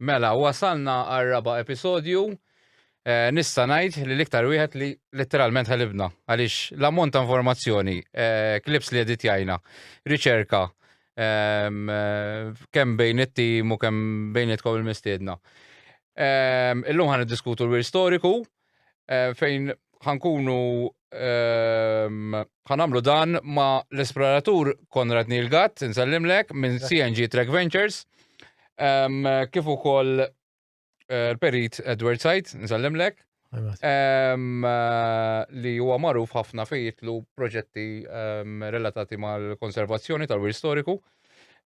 Mela, wasalna għal raba episodju. Eh, nista ngħid li l-iktar wieħed li letteralment ħalibna għaliex l-ammont ta' informazzjoni, eh, klips li edit jajna, riċerka, ehm, eh, kemm bejn it-tim u kemm bejn it il-mistiedna. Ehm, illum ħan diskutu l-wir storiku, eh, fejn ħankunu ehm, ħanamlu dan ma l-esploratur Konrad Nilgat, nsellimlek, minn CNG Trek Ventures, ehm, kif ukoll eh, l-perit Edward Sajt, nsellimlek, ehm, eh, li huwa magħruf ħafna fejtlu proġetti relatati mal-konservazzjoni tal-wir storiku,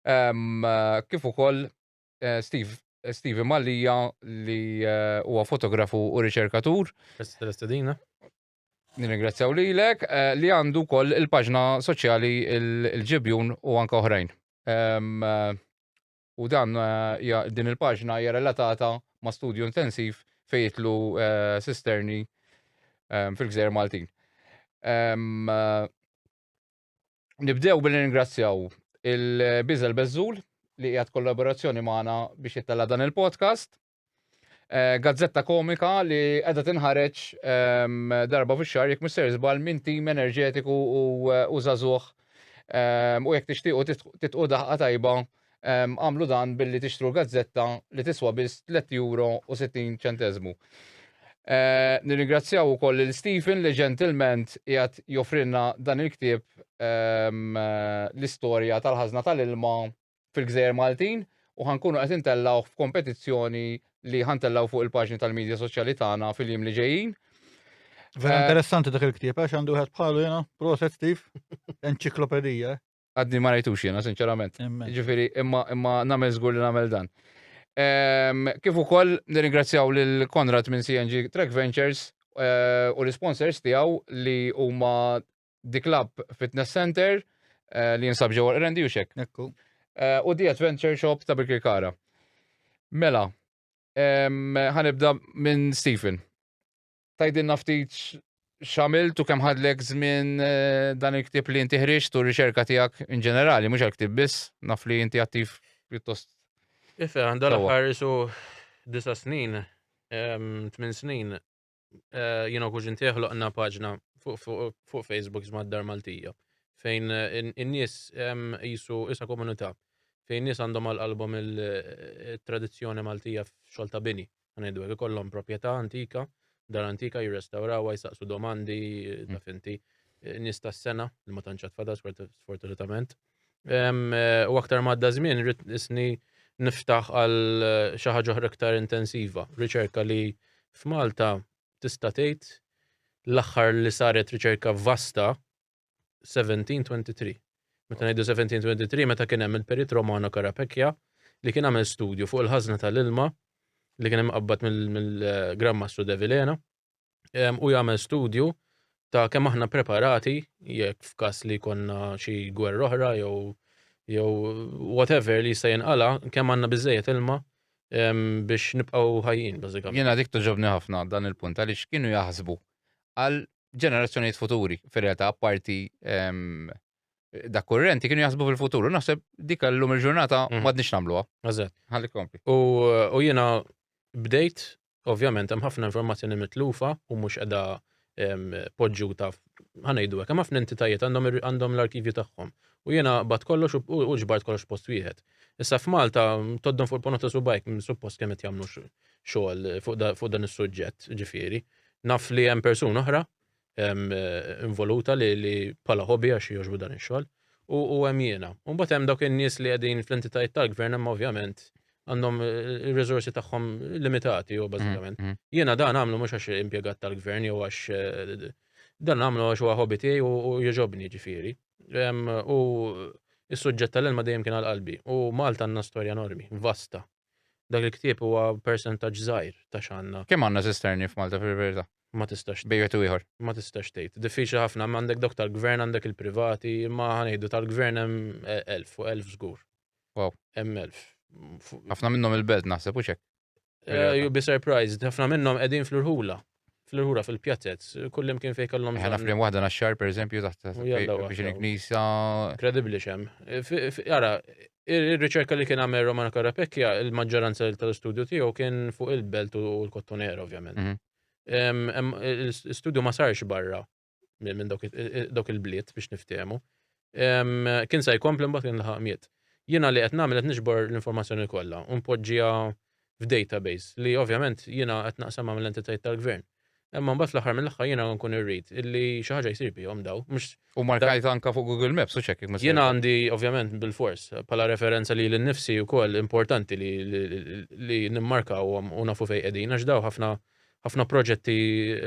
kif ukoll eh, Steve eh, Steve Mallia li eh, huwa fotografu u riċerkatur. Tal-istedina. Nirringrazzjaw lilek eh, li għandu wkoll il-paġna soċjali il- il-ġibjun u anke oħrajn. Em, eh, U dan eh, hija- din il-paġna hija relatata ma' studju intensiv fejn jitlu eh, sisterni em, fil-gżejjer Maltin. Em, eh, Nibdew billi ningrazzjaw il-Biżel Bezzul li qiegħed kollaborazzjoni magħna biex jittella dan il-podcast. Eh, gazzetta komika li qiegħda tinħareġ ehm, darba fix-xahar jekk mister żball minn tim enerġetiku u eh, żagħżugħ ehm, u jekk tixtiequ titqu daħqa tajba Agħmlu dan billi tixtru l-gazzetta li tiswa biss €3 u 60 ċenteżmu. Nirringrazzjaw ukoll lil Stephen li ġentilment qiegħed joffrilna dan il-ktieb l-istorja tal-ħażna tal-ilma fil-Gżejjer Maltin u ħa nkunu qed intellgħuh f'kompetizzjoni li ħa ntellgħu fuq il-paġni tal-midja soċjali tagħna fil-jiem li ġejjin. Vera interessanti dak il-ktieb għax għandu wieħed bħalu jiena, proset Steve, enċiklopedija. Għadni ma rajtux jiena, sinċerament. Ġifiri, imma imma nagħmel żgur li nagħmel dan. Ehm, kif ukoll nirringrazzjaw lil Konrad minn CNG Track Ventures eh, u l-sponsors tiegħu li huma The Club Fitness Center eh, li jinsab ġewwa Rendi u xek. Ekku. Eh, u The Adventure Shop ta' Birkirkara. Mela, ehm, ħanibda minn Stephen. Tajdilna ftit xamilt u kemm ħadlek żmien eh, dan il-ktieb li inti ħriġt u r-riċerka tiegħek in ġenerali, mhux għal-ktieb biss, naf li inti attiv pjuttost. Ife, għandha l-aħħar isu disa snin, tmin snin, eh, jiena kuġin teħloqna paġna fuq Facebook żmad dar Maltija fejn eh, in-nies jisu isa komunità fejn nies għandhom għal-qalbhom il-tradizzjoni Maltija f'xogħol ta' bini. Ħa ngħidu hekk, ikollhom proprjetà antika, dar antika jirrestawrawha, jsaqsu domandi, mm. taf inti, eh, nies tas-sena li ma tantx tfadal sfortunatament. Eh, u aktar madda żmien rrid isni niftaħ għal eh, xi ħaġa oħra aktar intensiva, riċerka li f'Malta tista' tgħid l-aħħar li saret riċerka vasta 1723. Meta ngħidu 1723 meta kien hemm il-Perit Romano Carapecchia li kien għamel studju fuq il-ħażna tal-ilma li kien imqabbad mill-Gran Mastru De Vilena u jagħmel studju ta' kemm aħna preparati jekk f'każ li konna xi gwerra oħra jew jew whatever li jista' jinqala kemm għandna biżejjed ilma biex nibqgħu ħajjin bażikament. Jiena dik toġobni ħafna dan il-punt għaliex kienu jaħsbu għal ġenerazzjonijiet futuri, fir-realtà apparti ehm, da kurrenti kienu jaħsbu fil-futuru. Naħseb dik l-lum il-ġurnata mhm. madnix namluha. Eżatt. Ħalli kompli. U jiena bdejt, ovvjament, hemm ħafna informazzjoni mitlufa u mhux qiegħda ehm, poġġuta ħanejdu hekk. Hemm ħafna entitajiet għandhom l-arkivju tagħhom. U jiena bat kollox u ġbart kollox post wieħed. Issa f'Malta toddon fuq il-ponota subajk suppost kemm qed jagħmlu xogħol fuq dan is-suġġett, ġifieri. Naf li hemm persuna oħra ehm, eh, involuta li, li pala hobby għax joġbu dan ix-xogħol u hemm jiena. U mbagħad hemm dawk in-nies li qegħdin fl-entitajiet tal-gvern hemm ovvjament għandhom eh, ir-riżorsi tagħhom limitati u bażikament. Mm, mm. Jiena dan għamlu mhux għax impjegat tal-gvern jew għax eh, dan għamlu għax huwa hobby tiegħi u jogħġobni ġifieri. U is-suġġett tal-ilma dejjem kien għal qalbi u Malta għandna storja enormi, vasta. Dak il-ktieb huwa persentaġġ żgħir ta' x'għandna. Kemm għandna Zisterni f'Malta fil-verità? Ma tistax. Bejn wieħed u ieħor. Ma tistax tgħid. Diffiċli ħafna. Hemm għandek dawk tal-Gvern, għandek il-privati, imma ħa ngħidu tal-Gvern hemm elf, fuq elf żgur. Wow. Hemm elf. Ħafna minnhom il-Belt naħseb, hux hekk? You'll be surprised. Ħafna minnhom qegħdin fl-irħula. fl-irħura fil-pjatez, kullim kien fejn kellhom. Ħana flim waħda naxxar pereżempju taħt biex il-knisa. Kredibbli xem. Ara, ir-riċerka li kien għamel Romana Karapekja, il-maġġoranza tal-istudju tiegħu kien fuq il-belt u l-kottonera ovvjament. Mhm. Il-studju ma sarx barra. minn dawk il-bliet biex niftehmu. Kien se jkompli mbagħad kien laħaq miet. Jiena li qed nagħmel qed niġbor l-informazzjoni kollha u npoġġiha f'database li ovvjament jiena qed naqsam l entitajiet tal-gvern. Imma mbagħad fl-aħħar mill-aħħar jiena nkun irrid illi xi ħaġa jsir bihom daw. U markajt anka fuq Google Maps u ċekk ma Jiena għandi ovvjament bil-fors bħala referenza li l-nifsi wkoll importanti li nimmarkawhom u nafu fejn qegħdin għax daw ħafna ħafna proġetti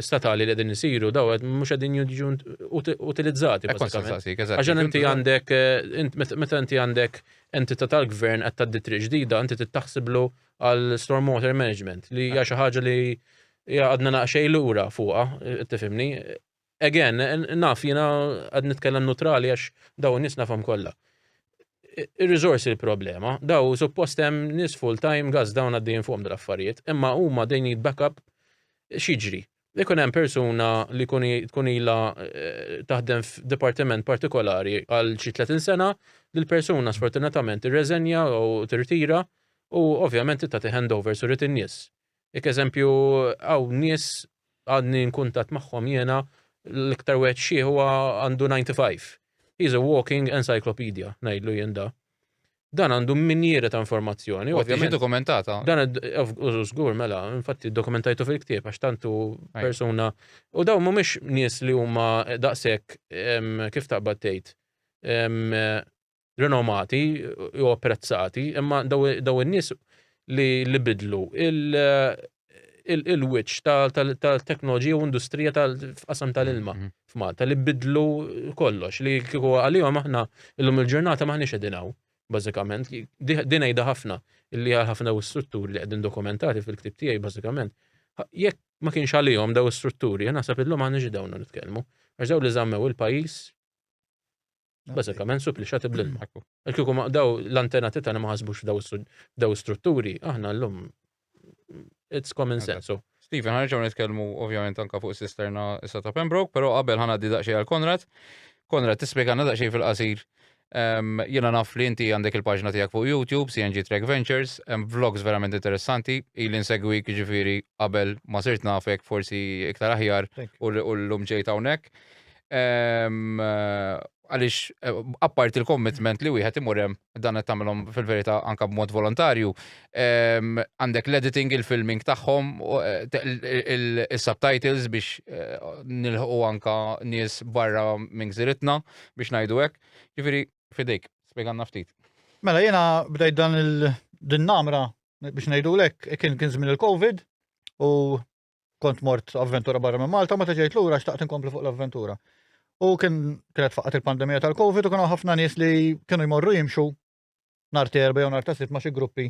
statali li qegħdin isiru daw mhux qegħdin jiġu utilizzati. Għaxan inti għandek, meta inti għandek entità tal-gvern qed tgħaddi triq ġdida, inti tittaħsiblu għal stormwater management li hija xi ħaġa li għadna naqxej lura fuqha, tifhimni, Again, naf jiena qed nitkellem nutrali għax daw in-nies nafhom kollha. Ir-riżorsi l-problema, daw suppost hemm nies full-time gas dawn għaddejjin fuqhom dal-affarijiet, imma huma they need backup x'jiġri. Ikun hemm persuna li tkun ilha eh, taħdem f'dipartiment partikolari għal xi 30 sena, li l-persuna sfortunatament irreżenja u tirtira u ovvjament tagħti handovers u rrid in-nies. Jekk eżempju hawn nies għadni in kuntatt magħhom jiena l-iktar wieħed xieħ huwa għandu 95. He's a walking encyclopedia, ngħidlu jien da. Dan għandu minjieri ta' informazzjoni. U għattiġi dokumentata. Dan żgur mela, infatti dokumentajtu fil-ktieb għax tantu persuna. U dawn mhumiex nies li huma daqshekk kif taqbad tgħid rinomati u apprezzati, imma daw in-nies li bidlu il-wiċċ tal-teknoloġija u industrija tal-qasam tal-ilma mhm. f'Malta li bidlu kollox li kieku għalihom aħna illum il-ġurnata maħniex qegħdin hawn bażikament din għidha ħafna illi għal ħafna daw strutturi li qegħdin dokumentati fil-ktib tiegħi bażikament jekk ma kienx għalihom daw strutturi naħseb illum maħniex dawn nitkellmu għax daw li żammew il-pajjiż Bażikament supplixati bl-marku. Kieku ma daw l-antenati tagħna ma ħasbux f'daw strutturi, aħna llum it's common sense. Steven, ħarġaw nitkellmu ovvjament anka fuq sisterna issa ta' Pembroke, però qabel ħana di daqsxejn għal Konrad. Konrad, tispjegana daqsxejn fil-qasir. Ehm, jiena naf li inti għandek il-paġna tiegħek fuq YouTube, CNG Trek Ventures, hemm vlogs verament interessanti, ili nsegwik ġifieri qabel ma sirt nafek forsi iktar aħjar u l-lum ġejt hawnhekk. għaliex eh, apparti il-commitment li wieħed imur hemm dan qed tagħmilhom fil-verità anke b'mod volontarju. Ehm, għandek l-editing, il-filming tagħhom, eh, il-subtitles biex eh, nilħu anka nies barra minn gżiritna biex ngħidu hekk. Ġifieri fidejk, spjeganna ftit. Mela jiena bdejt dan il-din namra biex ngħidu lek kien kien żmien il-COVID u kont mort avventura barra minn Malta, meta ġejt lura xtaqt inkompli fuq l-avventura. U kien kienet faqat il-pandemija tal-Covid u kienu ħafna nies li kienu jmorru jimxu nar terba jew nar tasit ma' xi gruppi.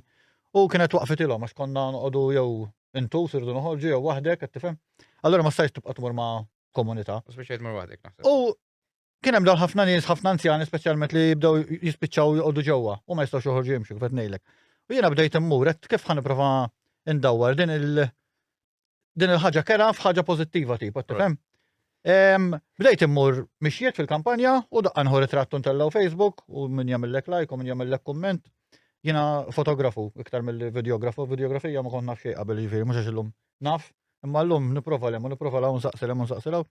U kienet waqfet ilhom għax konna noqogħdu jew intu sirdu noħorġu jew waħdek qed tifhem. Allura ma stajx tibqa' tmur ma' komunità. Speċjal tmur waħdek naħseb. U Kien hemm dawn ħafna nies, ħafna anzjani speċjalment li jibdew jispiċċaw joqogħdu ġewwa u ma jistgħux joħorġu jimxu kif qed ngħidlek. U jiena bdejt immur qed kif ħaniprofa ndawwar din il- din il-ħaġa kera f'ħaġa pożittiva tipa, tifhem? Bdejt immur mixjiet fil-kampanja u daqqa nħor trattu ntellaw Facebook u min jagħmellek like u min jagħmellek kumment. Jiena fotografu iktar mill-videografu, videografija ma kont naf xejn qabel jiġifieri mhux għax illum Naf, imma llum nipprova lem u nipprova law nsaqsi lem u nsaqsi law.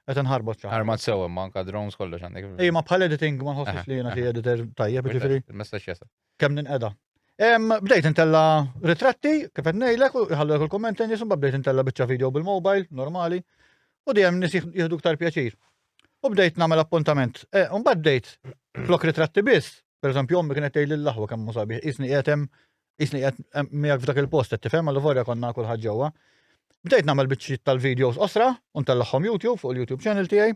Qed inħarbot xi. Armat sew imma anka drones kollox għandek. Ej, ma bħal editing ma nħossix li jiena xi editor tajjeb, ġifieri. Il-messaġġ jasal. Kemm ninqeda. Bdejt intella' ritratti, kif qed ngħidlek, u jħallulek il-kumment lejn nies, imbagħad bdejt intella' biċċa video bil-mobile, normali, u dejjem nies jieħdu iktar pjaċir. U bdejt nagħmel appuntament. Imbagħad bdejt flok ritratti biss, pereżempju ommi kienet tgħidli l-aħwa kemm hu sabiħ, qisni qiegħed hemm Isni qed miegħek f'dak il-post qed tifhem għal vorja konna kulħadd ġewwa. Bdejt nagħmel biċċiet tal-videos osra u ntellagħhom YouTube fuq il-YouTube channel tiegħi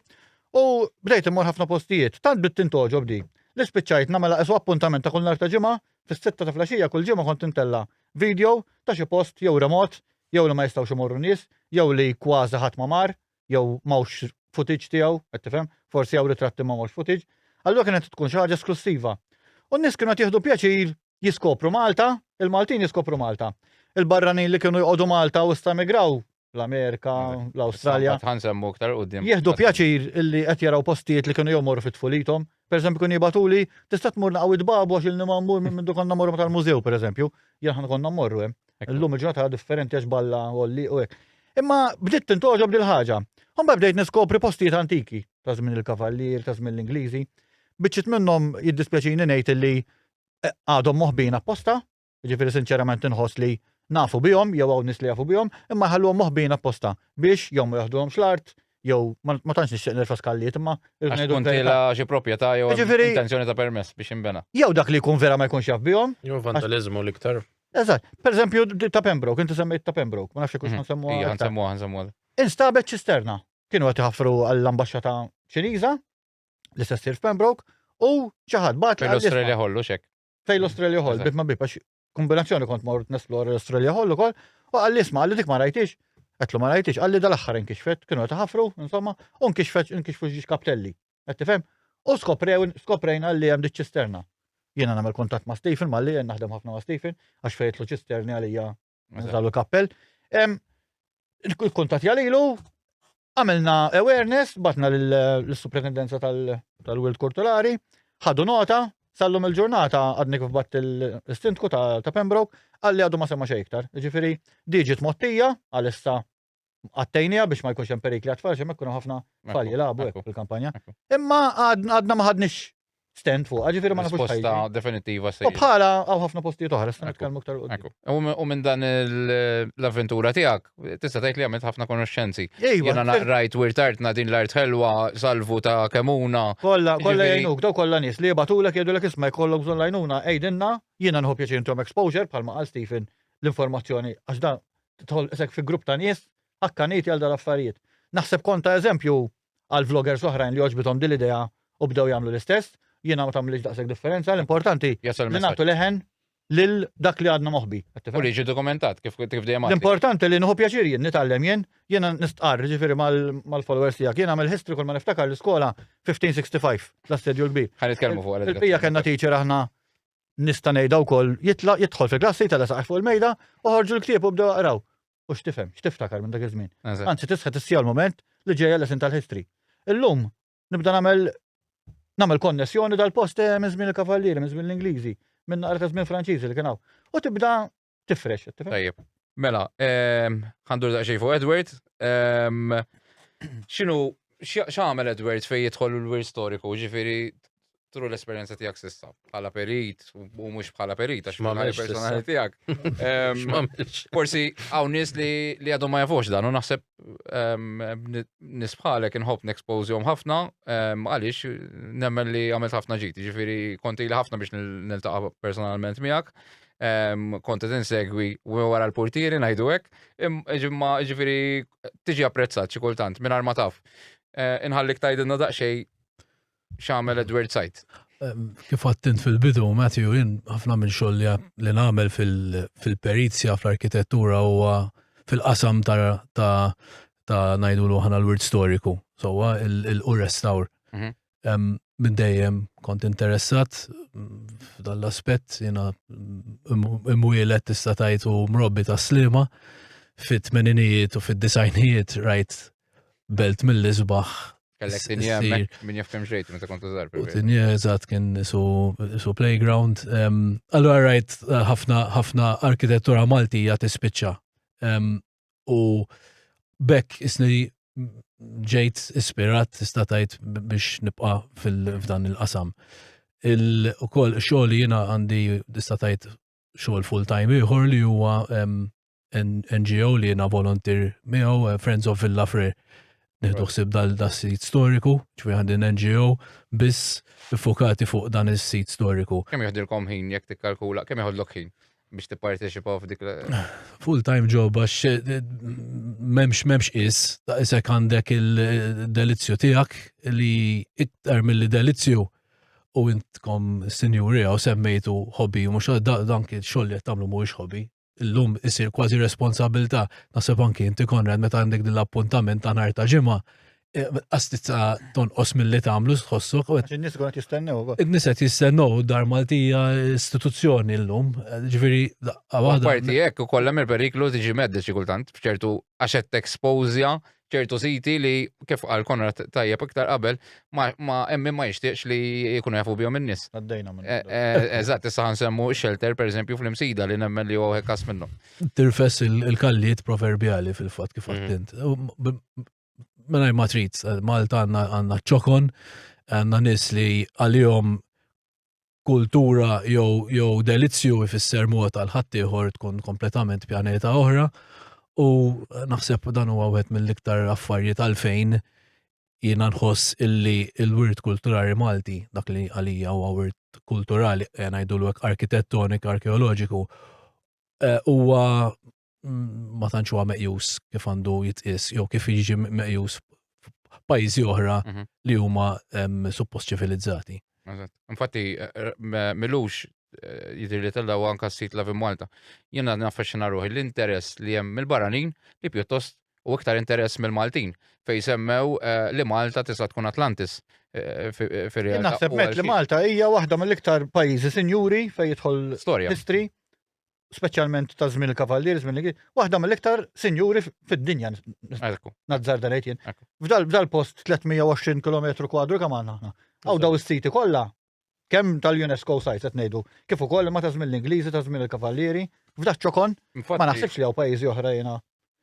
u bdejt immur ħafna postijiet. Tant bdiet tintoġob di. Li spiċċajt nagħmel esu appuntament ta' kull nhar ta' ġimgħa fis-sitta ta' flaxija kull ġimgħa kont intella' video ta' xi post jew remot jew li ma jistgħux imorru nies jew li kważi ħadd ma mar jew mawx footage tiegħu, qed tifhem, forsi jew ritratti ma mawx footage. Allura kienet tkun xi ħaġa esklussiva. U n-nies kienu qed jieħdu pjaċir jiskopru Malta, il-Maltin jiskopru Malta. Il-barranin li kienu jqogħdu Malta u sta migraw l-Amerika, l-Awstralja. Ħansemmu aktar qudiem. Jieħdu pjaċir illi qed jaraw postijiet li kienu jomor fit-tfulitom. Per eżempju, kun jibatuli, tista' tmur naqaw id-babu għax il-nima mmur minn minn konna morru tal-mużew, per eżempju, jien konna morru hemm. Illum il-ġurnata differenti għax balla għolli u hekk. Imma bdiet tintoġob dil ħaġa. Mbagħad bdejt niskopri postijiet antiki ta' żmien il-Kavallier, ta' żmien l-Ingliżi. Biċċiet minnhom jiddispjaċini ngħid li għadhom moħbin apposta, ġifiri sinċerament inħoss li nafu bihom, jew għaw nis li jafu bihom, imma jħalluhom moħbin apposta biex jew ma jaħduhomx l-art, jew ma tantx nixtieq nirfa skalliet imma Għax tkun tila xi proprjetà jew Ġifieri- intenzjoni ta' permess biex jinbena. jew dak li jkun vera ma jkunx jaf bihom. Jew vandalizmu l-iktar. Eżatt, per eżempju d- ta' Pembroke, inti semmejt ta' Pembroke, ma nafx jekk Mhm. nsemmuha. Ija, aktar. nsemmuha, nsemmuha. Instabet ċisterna. Kienu qed iħaffru għall-ambaxxata Ċiniża, li se ssir f'Pembroke u xi ħadd bagħat Fejn l-Australia ħollu xek. Fejn l-Australia ħoll, bit ma bib, għax kombinazzjoni kont mor nesplor l-Australia ħollu kol, u għalli isma' għalli dik ma rajtix, għetlu ma rajtix, għalli dal-axħar inkixfet, kienu għet ħafru, insomma, u nkixfet, nkixfu xiex kaptelli. Għet tifem? U skoprew, skoprejn għalli għem ċisterna. Jena namel kontat ma' Stephen, ma' li naħdem ħafna ma' Stephen, għax fejtlu ċisterni għalija Nżalu kappell. Il-kuntat jalilu, għamilna awareness, batna l-superintendenza tal-Wild Kulturali, ħadu nota, sallum il-ġurnata għadni kif bat il-stintku ta' Pembroke, għalli għadu ma semma xejktar. Ġifiri, diġit mottija, għal-issa għattejnija biex ma jkunx hemm perikli għat-tfal xi jkun ħafna tfal jilagħbu hekk fil-kampanja. Imma għadna ma ħadniex stent fuq, ġifieri ma nafux ħajja. definitiva se. U bħala hawn ħafna postijiet oħra se nitkellmu aktar qudiem. U minn dan l-avventura tiegħek tista' tgħid li għamilt ħafna konoxxenzi. Jiena naqrajt wirtartna din l-art ħelwa salvu ta' kemuna. Kollha kollha jgħinuk, daw kollha nies li jibgħatulek jgħidulek isma' jkollok bżonn lajnuna għidilna jiena nħobb jaċintom exposure bħalma qal Stephen l-informazzjoni għax dan tidħol isek fi grupp ta' nies ħakkaniti għal dal-affarijiet. Naħseb kont ta' eżempju għal vloggers oħrajn li għoġbitom din l-idea u bdew jagħmlu l-istess, jiena ma tagħmlilix daqshekk differenza, l-importanti li nagħtu leħen lil dak li għadna moħbi. U li ġi dokumentat kif kif dejjem. L-importanti li nħu pjaċir jien nitgħallem jien, jiena nistqarr ġifieri mal-followers tiegħek. Jiena għamel history kull ma niftakar l-iskola 1565 l-assedju l-kbir. Ħan nitkellmu fuq Il-bija kellna teacher aħna nista' ngħidha wkoll jitlaq jidħol fil-klass jitela' saqaj fuq il-mejda u ħorġu l-ktieb u bdew aqraw. U x'tifhem, x'tiftakar minn dak iż-żmien. Anzi tisħet is-siegħa u l-mument li ġejja lesson tal-history. Illum nibda nagħmel nagħmel konnessjoni dal-post minn żmien il-Kavallieri, minn żmien l-Ingliżi, minn naqra ta' żmien Franċiżi li kien hawn. U tibda Tifrex, tifrex. Tajjeb. Mela, ehm, ħandur daqxej fuq Edward. Ehm, xinu, xamel Edward fej jitħol l-wir storiku, ġifiri tru l-esperienza tijak sissa, bħala perit, u mux bħala perit, għax ma mela personali tijak. Ehm, forsi għaw nis li għadu ma jafux dan, u naħseb nisbħalek nħob n-expose jom ħafna, għalix nemmen li għamilt ħafna ġiti, ġifiri konti li ħafna biex nil-taqa personalment miegħek. kont qed insegwi wara l-portieri ngħidu hekk, imma ġifieri tiġi apprezzat xi kultant mingħajr ma taf. Eh, inħallik tgħidilna daqsxejn x'għamel Edward Sajt. Kif għattint fil-bidu, Matthew, jien ħafna minn xogħol li nagħmel fil-perizja fl-arkitettura huwa fil-qasam ta' ngħidu l ħana l-wirt storiku, sowa il-restawr. Mhm. minn dejjem kont interessat f'dan l-aspett jiena imwielet tista' tgħid u mrobbi ta' slima fit-tmeninijiet u fid-disajnijiet rajt belt mill-isbaħ Kellek tinja minn jaftem xejt, meta kont użar. U tinja eżat kien su playground. Allora rajt eh, ħafna arkitettura Maltija tispiċċa. u bekk isni ġejt ispirat tista' tgħid biex nibqa' f'dan il-qasam. Il-ukoll xogħol jiena għandi tista' tgħid xogħol full time ieħor li huwa NGO li jiena volontir miegħu eh, Friends of Villa Fre. Nieħdu ħsib dal-sit storiku, ċvi għandi NGO, biss fokati fuq dan is-sit storiku. Kemm jieħdilkom ħin jekk tikkalkula, kemm jieħodlok ħin? biex tipparteċipaw f'dik Full-time job għax eh, memx memx is, ta' isek għandek il-delizzju tijak li iktar mill-li delizzju u intkom sinjuri għaw semmejtu hobby, mux dan kien xoll li tamlu mux hobby. Illum isir kważi responsabilta, nasib anki inti konrad meta għandek dil-appuntament ta' nar ta' ġimma, qastizza tonqos mill-li tagħmlu tħossok. In-nies għonet jistennew. In-nies qed jistennew dar Maltija istituzzjoni llum, ġifieri waħda. Parti hekk ukoll hemm il-periklu tiġi medda xi kultant f'ċertu għax qed tekspozja ċertu siti li kif għal Konrad tajjeb iktar qabel ma hemm ma jixtieqx li jkunu jafu bihom in-nies. Għaddejna minn. Eh, eh, eżatt, issa ħansemmu shelter pereżempju fl-imsida li nemmen li huwa każ minnhom. Tirfess il-kalliet proverbjali fil-fatt kif għaddint. Mm. mela ma trid, eh, Malta għandna ċokon, għandna nies li għalihom kultura jew jew delizzju ifisser mod għal ħaddieħor tkun kompletament pjaneta oħra u naħseb dan huwa wieħed mill-iktar affarijiet għalfejn jiena nħoss illi l-wirt kulturali Malti dak li għalija huwa wirt kulturali eh, ngħidulu hekk arkitettoniku, arkeoloġiku eh, huwa ma tantx huwa meqjus kif għandu jitqis jew kif jiġi meqjus pajjiżi oħra mhm. li huma suppost ċivilizzati. Infatti, eh, eh, milux eh, jidir li tella u anka s-sit la Malta. Jena naffeċina ruħi l-interess li jem mill-baranin li pjuttost u iktar interess mill-Maltin fej semmew eh, li Malta tista' tkun Atlantis. Eh, eh, naħseb met li Malta hija waħda mill-iktar pajjiżi sinjuri fej jidħol storja. History. speċjalment ta' żmien il-kavallieri, żmien li waħda mill-iktar sinjuri fid-dinja. Nazzar dan jien. F'dal post 320 km kwadru kemm għandna aħna. Għaw daw is-siti kollha kemm tal-UNESCO sajt qed ngħidu, kif ukoll ma ta' żmien l-Ingliżi ta' żmien il-kavallieri, f'dak ċokon, ma naħsibx li hawn pajjiżi oħra jiena.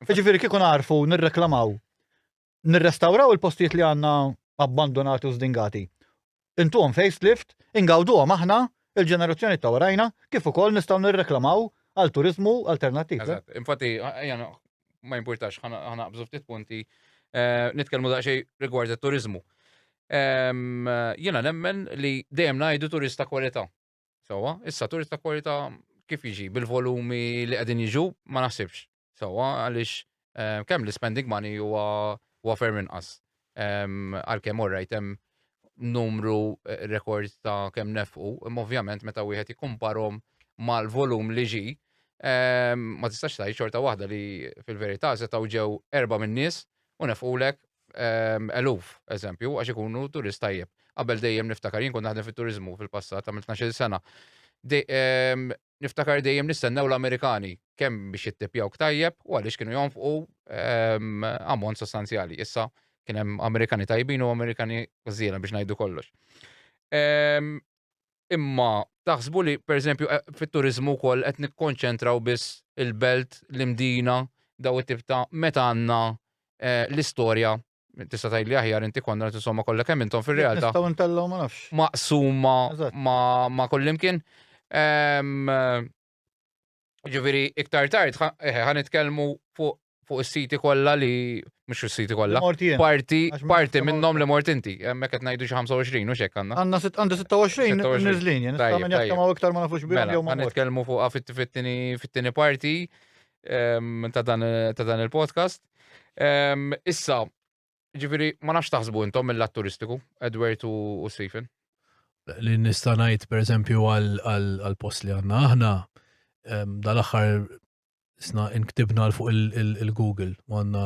Jiġifieri kieku narfu nirreklamaw nirrestawraw il-postijiet li għandna abbandunati u żdingati. Intuhom facelift, ingawduhom aħna, il-ġenerazzjoni ta' warajna, kif ukoll nistgħu nirreklamaw għal turiżmu alternattiv. Eżatt, infatti, ejja no- ma jimpurtax ħana ħana naqbżu ftit punti eh, nitkellmu daqsxejn rigward it-turiżmu. Ehm, Jiena nemmen li dejjem ngħidu turista kwalità. Sawa, issa turist ta' kwalità kif jiġi bil-volumi li qegħdin jiġu ma naħsibx. Sawa, għaliex eh, kemm l-spending money huwa huwa ferm inqas. Ehm, Għalkemm orrajt hemm numru eh, rekord ta' kemm nefqu, imma ovvjament meta wieħed jikkumparhom mal-volum li ġi, ehm, ma tistax tgħid xorta waħda li fil-verità setgħu ġew erba' min-nies u nefqulek ehm, eluf, eżempju, għax ikunu turist tajjeb. Qabel dejjem niftakar, jien kont naħdem fit-turizmu fil-passat, għamil 12 sena. Ehm, niftakar dejjem nistennew l-Amerikani kemm biex jittipjaw tajjeb u għaliex kienu jonfqu ehm, ammont sostanzjali. Issa kien hemm Amerikani tajbin u Amerikani żiena biex ngħidu kollox. Ehm, Imma taħsbu li, pereżempju, fit-turiżmu wkoll qed nikkonċentraw biss il-belt, l-Imdina, dawn it-tip ta' meta għandna l-istorja, tista' tgħidli aħjar inti Konrad, insomma kollha kemm intom fir-realtà. Nistgħu ntellgħu ma nafx. Maqsuma ma' kullimkien. Ġifieri iktar tard ħan nitkellmu fuq fuq is-siti kollha li mhux is-siti kollha. Parti parti minnhom li mort inti, hemmhekk qed ngħidu xi 25 u xek għandna. Għandna għandi 26 niżlin, jien nista' minn jekk ma' iktar ma nafux bihom mela, jew ma. Nitkellmu fuq fit-tieni fit-tieni parti ehm, ta' dan il-podcast. Ehm, issa, Ġifiri, ma nafx taħsbu intom mill lat turistiku, Edward u Stephen. Li nista' ngħid pereżempju għal post li għandna aħna, ehm, dal-aħħar sna inktibna l fuq il-Google, għandna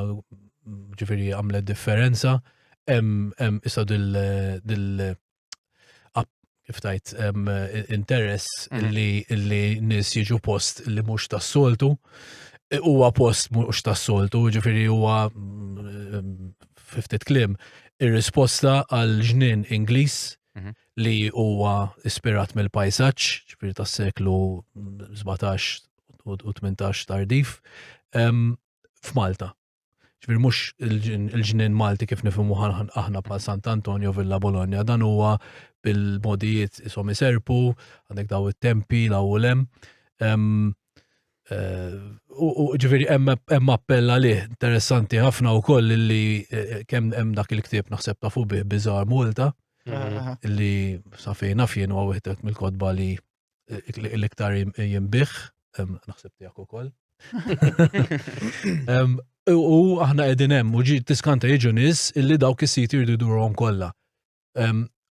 ġifiri għamlet differenza, hemm issa dil kif tajt interess mhm. li li nis jiġu post li mhux tas-soltu e, huwa post mhux tas-soltu, ġifieri huwa ftit klim ir-risposta għal ġnien Ingliż mhm. li huwa ispirat mill-pajsaġġ, ġifieri tas-seklu 17 u 18 tardif f'Malta. ġvir mux il-ġnin Malti kif nifimu aħna bħal Sant Antonio Villa Bologna, dan huwa bil-modijiet isom iserpu, għandek daw il-tempi, law u lem. Eh, u ġviri hemm appella li interessanti ħafna u koll li eh, kemm hemm dak il-ktib naħseb ta' fubi bizar Malta, mhm. li safejna fien u għawihtet mill-kodba li l-iktar jimbih, naħseb tijak u koll. U aħna edin hemm, u tiskanta jiġu nis illi dawk is-siti jridu durhom kollha.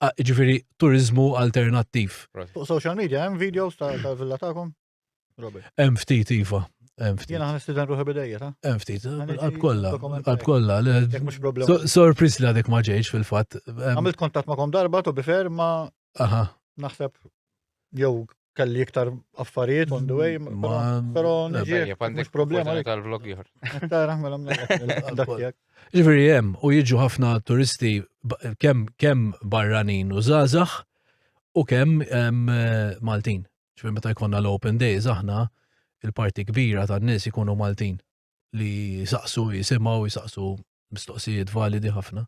Ġifiri, turizmu alternattiv. Fuq social media, hemm videos ta' villa ta'kom? Hemm ftit iva. Jena għan istidan ruħi bidejja, ta? Hemm ftit, għalb kolla, għalb kolla. Sorpris li għadek maġeġ fil-fat. Għamilt kontat ma'kom darba, to bifer, ma Aha. Naħseb jew kelli iktar affarijiet on the way, pero nġi mux problema tal-vlog jħor. Tara, mela mela. Ġifiri jem, u jiġu ħafna turisti kem, kem barranin u zazax u kem Maltin. Ġifiri meta jkonna l-open days aħna il-parti kbira tan-nies ikunu Maltin. li jisaqsu, jisimaw, jisaqsu mistoqsijiet validi ħafna.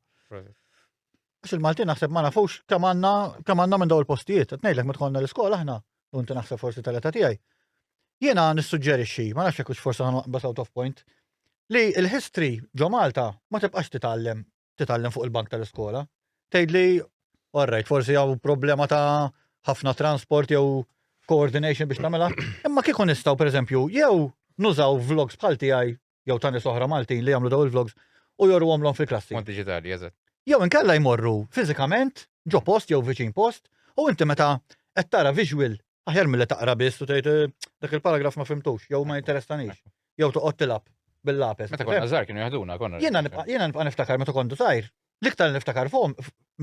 Għax il-Maltin naħseb ma nafux kemm għandna kemm għandna minn daw il-postijiet. Qed ngħidlek meta l-iskola aħna, u inti naħseb forsi tal-età tiegħi. Jiena nissuġġerixxi, ma nafx hekk forsi ħanqbas out of point, li l-history ġo Malta ma tibqax titgħallem titgħallem fuq il-bank tal-iskola. Tgħidli, all right, forsi hawn problema ta' ħafna transport jew coordination biex tagħmilha. Imma kieku nistgħu pereżempju jew nużaw vlogs bħal tiegħi jew tani soħra Maltin li jagħmlu daw il-vlogs u jorru għomlhom fil-klassi. Mod digitali, eżatt. Jew inkella jmorru fiżikament ġo post jew viċin post u inti meta qed tara visual Aħjar mill-li taqra biss u tgħid eh, dak il-paragraf ma fimtux, jew ma interessanix, jew toqgħod tilab bil-lapes. Meta konna żgħar kienu jaħduna konna. Jiena nibqa' niftakar meta kontu sajr, l-iktar niftakar fuqhom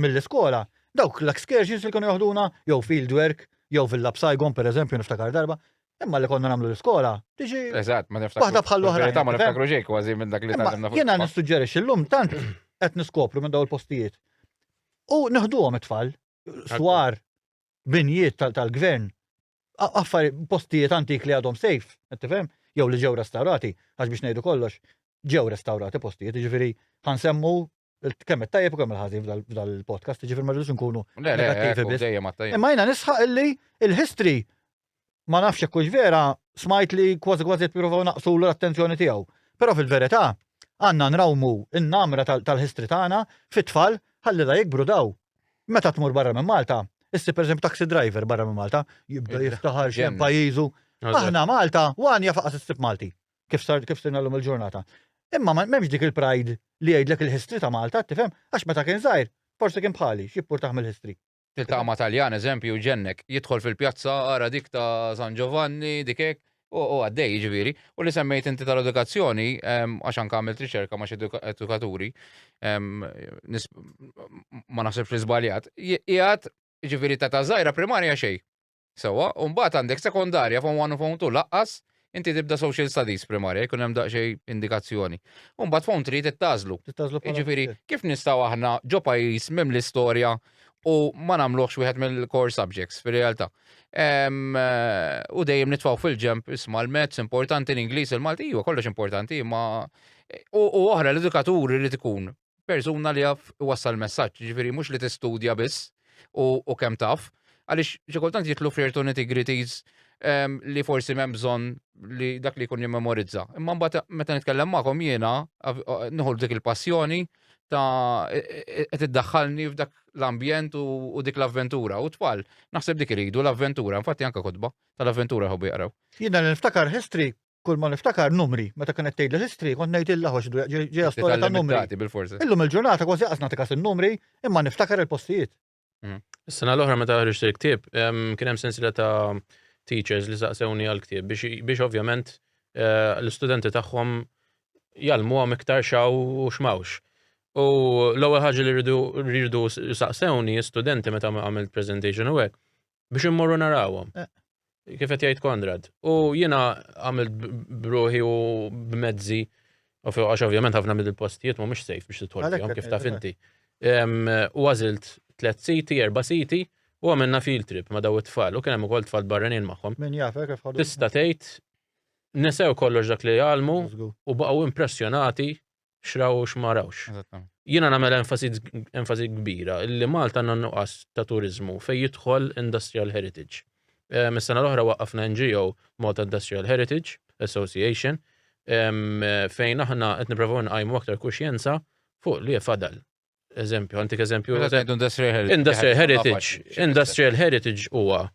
mill-iskola, dawk l-excursions li kienu jaħduna, jew field work, jew fil-lab Saigon per eżempju niftakar darba, Imma li konna namlu l-iskola, tiġi. Eżatt, ma niftakar. Waħda bħal oħra. Ta' ma niftakru ġej kważi minn dak li tagħna. Jiena nissuġġerixxi llum tant qed niskopru minn daw il-postijiet. U neħduhom it-tfal, swar, binjiet tal-gvern, affari postijiet antik li għadhom sejf, tifhem, jew li ġew restaurati, għax biex ngħidu kollox, ġew restaurati postijiet, ġifieri ħansemmu kemm it-tajjeb u kemm il-ħażin f'dal-podcast, ġifieri ma rridux nkunu negattivi biss. Imma jiena nisħaq illi il-history ma nafx jekk hux vera, smajt li kważi kważi jippruvaw naqsulu l-attenzjoni tiegħu. Però fil-verità, għandna nrawmu n-namra tal-history tagħna fit-tfal ħalli la jikbru daw. Meta tmur barra minn Malta, issib pereżempju taxi driver barra minn Malta, jibda jiftaħar x'hemm pajjiżu. Aħna Malta, u għan jaf aqas issib Malti, kif sar kif sirna llum il-ġurnata. Imma m'hemmx dik il-pride li jgħidlek il-history ta' Malta, tifhem? Għax meta kien żgħir, forsi kien bħali, x'jippurtah mill-history. Il-tama Taljan, eżempju, ġennek, jidħol fil-pjazza, ara dik ta' San Giovanni, dik hekk, u u għaddej ġviri. U li semmejt inti tal-edukazzjoni, em, għax anke għamilt riċerka ma' xi eduka- edukaturi, em, nis- ma naħsibx li żbaljat, qiegħed ġviri ta' ta' żgħira primarja xejn. Sewwa, u mbagħad għandek sekondarja form one u form two laqqas inti tibda social studies primarja jkun hemm daqsxejn indikazzjoni. U mbagħad form three trid tażlu. Jiġifieri kif nistgħu aħna ġo pajjiż minn l-istorja u ma nagħmluhx wieħed mill-core subjects fir-realtà. Ehm, u dejjem nitfgħu fil-ġemp isma' l-mezz importanti l-Ingliż il-Malti, iva kollox importanti, ma u oħra l-edukatur irid ikun persuna li jaf iwassal messaġġ, ġifieri mhux li tistudja biss u kemm taf, għaliex xi kultant jitlu f'ċertu nitty-gritties ehm, li forsi m'hemm bżonn li dak li jkun jimmemorizza. Imma mbagħad meta nitkellem magħkom jiena nieħu dik il-passjoni ta' e, e, e, qed iddaħħalni f'dak l-ambjent u dik l-avventura. U tfal, naħseb dik iridu l-avventura, infatti anke kotba tal-avventura ħobbi jaqraw. Jiena niftakar history kull ma niftakar numri, meta kien qed tgħidli history, kont ngħid illa ħox ġejja storja ta' numri. Illum il-ġurnata kważi qas nagħtikas in-numri, imma niftakar il-postijiet. Mhm. Is-sena l-oħra meta ħriġt il-ktieb, kien hemm sensila ta' teachers li saqsewni għal-ktieb biex ovvjament eh, l-istudenti tagħhom jalmuhom iktar xaw u xmawx. U l-ewwel ħaġa li rridu saqsewni studenti meta għamilt presentation u hekk, biex immorru narawhom. Eh. Kif qed jgħid Konrad. U jiena għamilt bruħi u b'mezzi u fuq għax ovvjament ħafna mill-postijiet mhumiex safe biex titħolhom kif taf inti. U għażilt tliet siti, erba' siti u għamilna field trip ma' daw it-tfal u kien hemm ukoll tfal barranin magħhom. Min jafek kif ħadu. Tista' tgħid nesew kollox dak li jgħalmu u baqgħu impressjonati x'raw u x'ma rawx. Jiena nagħmel enfasi kbira li Malta għandna nuqqas ta' turiżmu fejn jidħol industrial heritage. Ehm, is-sena l-oħra waqqafna NGO Malta Industrial Heritage Association ehm, fejn aħna qed nipprovaw nqajmu aktar kuxjenza fuq li fadal eżempju, għantik eżempju. Industrial heritage. Industrial heritage. Industrial heritage huwa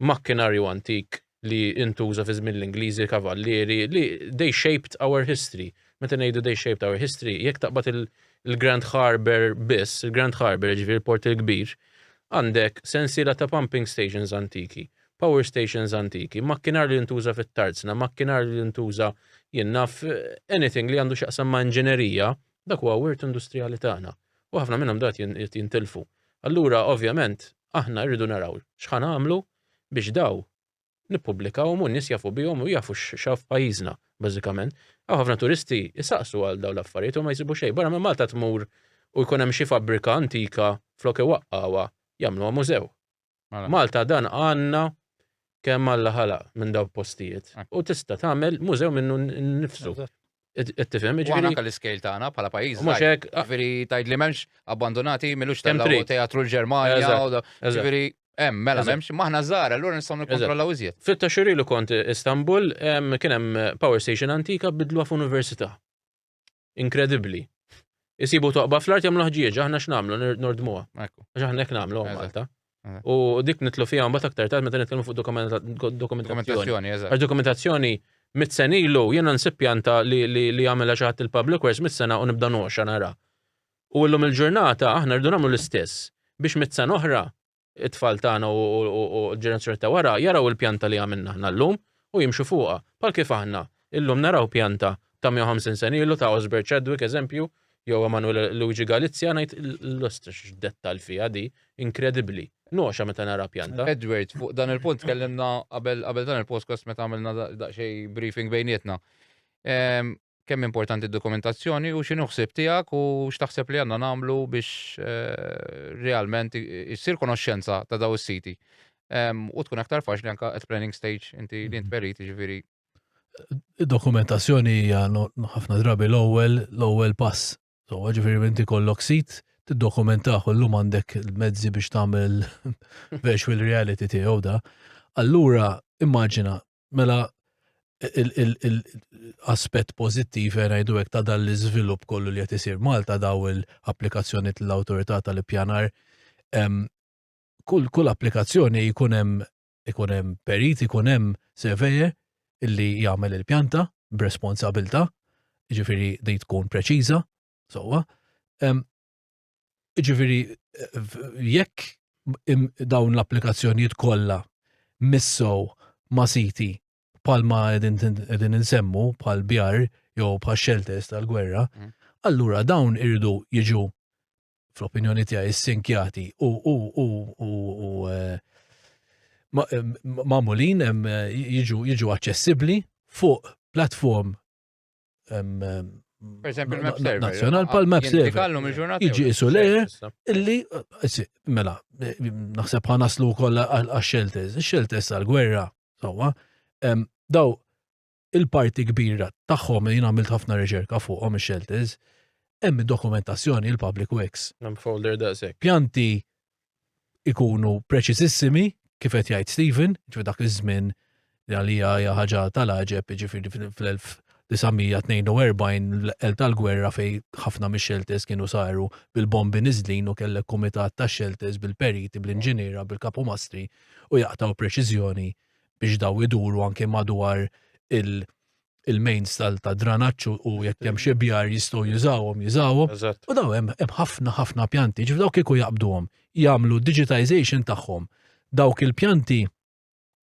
makkinarju antik li intuża fi żmien l-Ingliżi kavallieri li they shaped our history. Meta ngħidu they shaped our history, jekk taqbad il-Grand Harbor biss, il-Grand Harbor ġifier il-port il-kbir, għandek sensiela ta' pumping stations antiki, power stations antiki, makkinar li intuża fit-tarzna, makkinar li intuża jinnaf anything li għandu xaqsam ma' inġinerija Dak huwa wirt industrijali tagħna u ħafna minnhom dal-waqt qed jintilfu. Allura ovvjament aħna rridu naraw x'ħa nagħmlu biex daw nippubblikawhom u n-nies jafu bihom u jafu x'hawn f'pajjiżna bażikament. Hawn ħafna turisti jsaqsu għal dawn l-affarijiet u ma jsibu xejn. Barra minn Malta tmur u jkun hemm xi fabbrika antika flok iwaqqgħuha jagħmluha mużew. Mela. Malta dan għandna kemm Alla ħalaq minn daw postijiet. Ah. U tista' tagħmel mużew minnu nifsu. Ittifhem, ġifieri. Għana kalli scale tagħna bħala pajjiż. Mhux hekk. Ah. Ġifieri tgħid li m'hemmx abbandonati milux tagħmlu teatru l-Ġermanja. Ġifieri hemm mela m'hemmx maħna żgħar allura nistgħu nikkontrollaw iżjed. Fit-taxxuri li kont Istanbul kien hemm power station antika bidluha f'università. Inkredibbli. Isibu toqba fl-art jagħmlu ħġieġ, aħna x'namlu nordmuha. Għax aħna hekk nagħmlu Malta. U dik nitlu fiha mbagħad aktar tard meta nitkellmu fuq dokumentazzjoni. Għax dokumentazzjoni mit-sen ilu jiena nsib pjanta li għamela xi ħadd il-public works mit-sena u nibda noxa nara. U llum il-ġurnata aħna rridu nagħmlu l-istess biex mit-sen oħra it-tfal tagħna u l-ġenerazzjoni ta' wara jaraw il-pjanta li għamilna aħna llum u jimxu fuqha. Bħal kif aħna illum naraw pjanta ta' 150 sen ilu ta' Osbert Chadwick eżempju, jew Emanuele Luigi Galizia ngħid l-ostrix x'dettall fiha di, inkredibbli. Nogħxa meta nara pjanta. Edward, fuq dan il-punt tkellimna qabel dan il-podcast meta għamilna daqsxejn briefing bejnietna. Ehm, kemm importanti d-dokumentazzjoni u x'inhu ħsieb tiegħek u x'taħseb li għandna nagħmlu biex eh, realment issir konoxxenza ta' daw is-siti. U tkun aktar faċli anka at planning stage inti li int perit ġifieri. Dokumentazzjoni hija ħafna drabi l-ewwel l-ewwel pass. So ġifieri inti kollok sit tiddokumentaħ u llum għandek il-mezzi biex tagħmel virtual reality tiegħu da. Allura immaġina Mela l-aspett pożittiv eh, ngħidu hekk ta' dan l-iżvilupp kollu li qed isir Malta daw l-applikazzjoni tal-awtorità tal-ippjanar kull kull applikazzjoni jkun hemm ikun hemm perit, ikun hemm surveyor illi jagħmel il-pjanta b'responsabilta, ġifiri di tkun preċiża, sowa. Ġifieri jekk dawn l-applikazzjonijiet kollha missow ma' siti palma qegħdin insemmu pal bjar jew pa' shelters tal-gwerra, mm. allura dawn irridu jiġu fl-opinjoni tiegħi sinkjati u u u u u eh, eh, mamulin eh, jiġu jiġu aċċessibbli fuq platform Pereżempju il-map server. Nazzjonal pal map server. Iġi isu le illi eh, mela eh, naħseb ħa naslu wkoll għax-shelters. Ix-shelters tal-gwerra sewwa daw il-parti kbira tagħhom jien għamilt ħafna riċerka fuqhom ix-shelters hemm dokumentazzjoni il-public works. Hemm folder daqshekk. Pjanti ikunu preċiżissimi kif qed jgħid Stephen, ġifi dak iż-żmien li għalija hija ħaġa tal-għaġeb, ġifieri fl-1942 l-qel tal-gwerra fej ħafna mix-xelters kienu saru bil-bombi niżlin u kellek kumitat ta' xelters bil-periti, bl-inġiniera, bil-kapumastri u jaqtaw preċiżjoni biex daw iduru anke madwar il- il-mains tal-dranaċ u jekk hemm xi bjar jistgħu jużawhom, jużawhom. U daw hemm ħafna ħafna pjanti, ġif dawk kieku jaqbduhom, jagħmlu digitization tagħhom. Dawk il-pjanti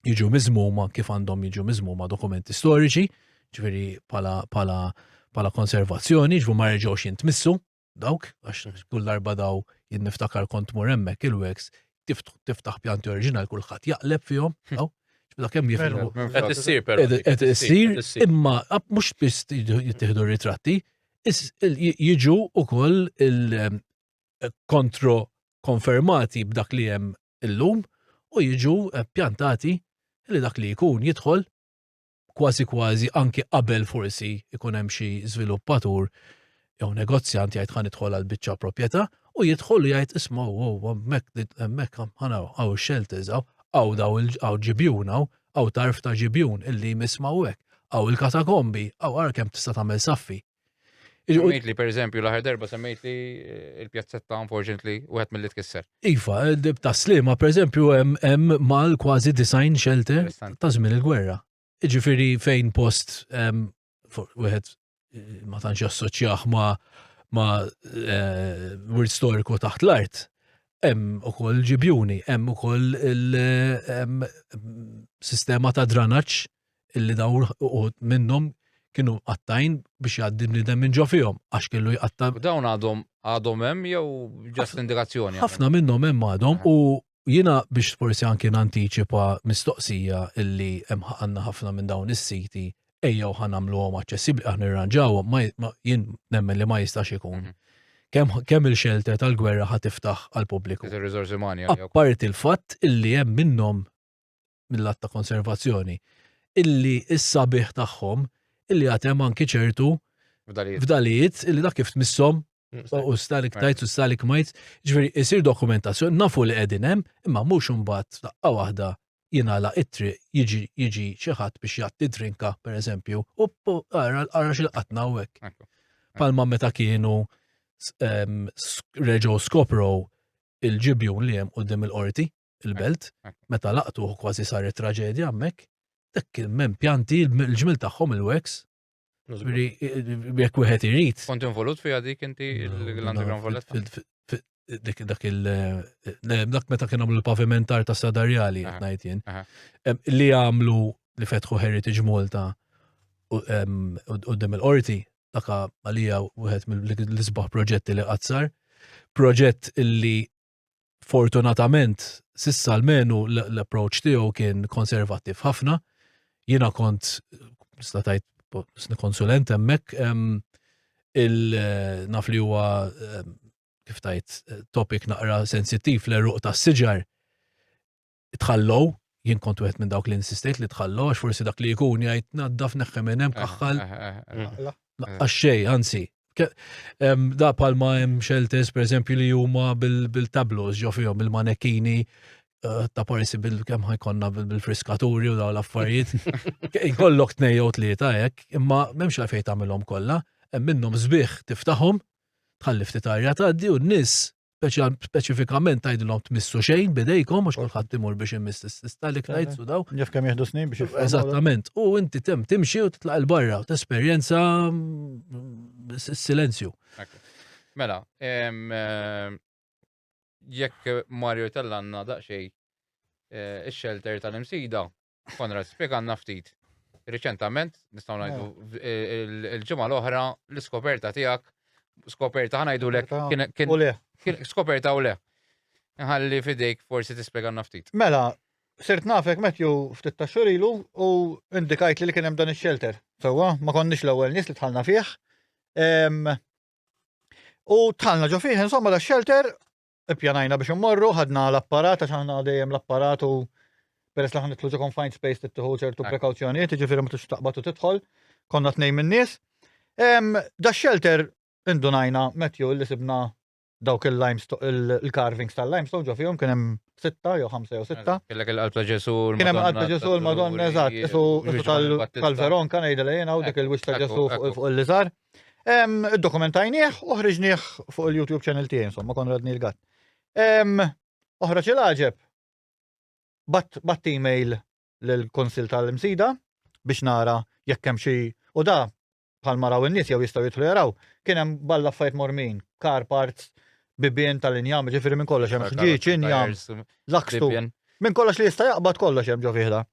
jiġu miżmuma kif għandhom jiġu miżmuma dokumenti storiċi, ġifieri pala pala pala konservazzjoni, ġifu ma reġgħux jintmissu, dawk, għax kull darba daw jien niftakar kont mur hemmhekk il-weks, tiftaħ pjanti oriġinali kulħadd jaqleb fihom, hm. daw. Ġbda kemm jifhmu. Qed issir però. Qed issir, imma mhux biss jittieħdu ritratti, jiġu ukoll il-kontro eh, konfermati b'dak li hemm illum u jiġu eh, pjantati li dak li jkun jidħol kważi kważi anki qabel forsi ikun hemm xi żviluppatur jew negozjant jgħid ħan idħol għal biċċa proprjetà u jidħol u jgħid isma' wow hemmhekk hemmhekk ħana hawn shelters hawn hawn daw hawn ġibjun hawn hawn tarf ta' ġibjun illi jmiss ma' hekk hawn il-katakombi hawn ara kemm tista' tagħmel saffi. Semmejt li, per eżempju, l-aħħar darba semmejt li eh, il-pjazzetta, unfortunately, u għet mill-li tkisser. Iva, dib ta' slima, per eżempju, hemm mal kważi design shelter ta' żmien il-gwerra. Ġifiri fejn post wieħed eh, ma tantx assoċjaħ ma ma eh, wirt storiku taħt l-art. Hemm ukoll ġibjuni, hemm ukoll il-sistema ta' dranaċ illi dawn uħud minnhom kienu mqattgħin biex jgħaddi bniedem minn ġo fihom għax kellu jqatta'. U dawn għadhom għadhom hemm jew ġast indikazzjoni? Ħafna minnhom hemm għadhom u jiena biex forsi anki nantiċipa mistoqsija illi hemm għandna ħafna minn dawn is-siti ejjew ħa nagħmluhom aċċessibbli aħna nirranġawhom ma jien nemmen li ma jistax ikun. Kemm kemm il-xelter tal-gwerra ħa tiftaħ għall-pubbliku. Apparti l-fatt illi hemm minnhom mill-att ta' konservazzjoni, illi s-sabiħ tagħhom illi għatem anki ċertu fdalijiet illi dak kif tmissom mm, u stalik tajt u stalik majt, ġveri isir dokumentazzjoni, nafu li qegħdin hemm, imma mhux imbagħad daqqa waħda jinala ittri jiġi jiġi xi ħadd biex jatti drinka pereżempju u ara ara xi qatna hekk. Palma meta kienu reġgħu skoprow il-ġibjun li hemm qudiem il-qorti. il-belt, meta laqtuh kważi saret traġedja hemmhekk, dak il-men pjanti l-ġmil tagħhom il-weks. Jekk wieħed irid. Kont involut fiha dik inti l-Underground Valletta? dik dak il eh, dak meta kien għamlu l-pavimentar ta' Sadarjali qed ngħid jien. Li għamlu li fetħu Heritage Malta u dem il-qorti daka għalija wieħed mill-isbaħ proġetti li qazzar. Proġett illi Fortunatament, sissa almenu l-approach tiegħu kien konservattiv ħafna. Jiena kont nista' tgħid konsulent hemmhekk il-naf li huwa kif tajt topic naqra sensittiv l-eruq tas-siġar. tħallow, jien kont wieħed minn dawk li insistejt li tħallu għax forsi dak li jkun jgħid naddaf neħħem minn hemm eh, kaħħal. Eh, eh, Naqqax xej, anzi. Da palma hemm xeltes pereżempju li huma bil-tablos ġo fihom bil-manekini ta' parisi bil-kem ħajkonna bil-friskaturi u daw l-affarijiet. Ikollok tnejjew tlieta hekk, imma m'hemmx la fejn tagħmilhom kollha, hemm minnhom sbieħ tiftaħhom, tħalli ftit arja tgħaddi u n-nies speċifikament tgħidilhom tmissu xejn bidejkom għax kulħadd imur biex imiss is-sis talik ngħid u daw. Jaf kemm jieħdu snin biex jifhem. Eżattament. U inti tem timxi u titlaq il-barra u tesperjenza mm, s-silenzju. Mela, eh, jekk Mario tellanna daqsxejn eh, ix-xelter tal-imsida, Konrad, spjegalna ftit. Riċentament, nistgħu ngħidu eh. il-ġimgħa l-oħra l-iskoperta tiegħek, skoperta ħanajdu lek kien skoperta u le. Nħalli fidejk forsi tispjegalna ftit. Mela, sirt nafek Matthew ftit ta' xurilu u indikajt li kien hemm dan ix-shelter. Sewwa, ma konniex l-ewwel nies li tħallna fih. U tħallna ġo fih, insomma, da shelter ippjanajna biex immorru, ħadna l-apparat, għax aħna dejjem l-apparat u peress li ħanitlu ġo confined space tittiħu ċertu prekawzjonijiet, ġifieri ma tux taqbad u tidħol, konna tnejn min-nies. Da shelter indunajna Matthew li sibna dawk il-carvings tal-limestone ġo fihom kien hemm sitta jew ħamsa jew sitta. Kellek il-qalb ta' Ġesu l-Madonna. Kien hemm qalb ta' Ġesu l-Madonna, eżatt, tal-Veronka ngħidilha jiena u dik il-wix ta' Ġesu fuq il-liżar. Dokumentajnieh u ħriġnieh fuq il-YouTube channel tiegħi insomma Konrad Neil Gatt. Oħra ċil ħaġeb bat email l-konsil tal-imsida biex nara jekk hemm xi u da bħal maraw in-nies jew jistgħu jidħlu jaraw kien hemm balla fajt mormin, car parts, bibien tal-injam, ġifieri minn kollox hemm ħġieġ, injam, lakstu. Minn kollox li jista' jaqbad kollox hemm ġo fihda.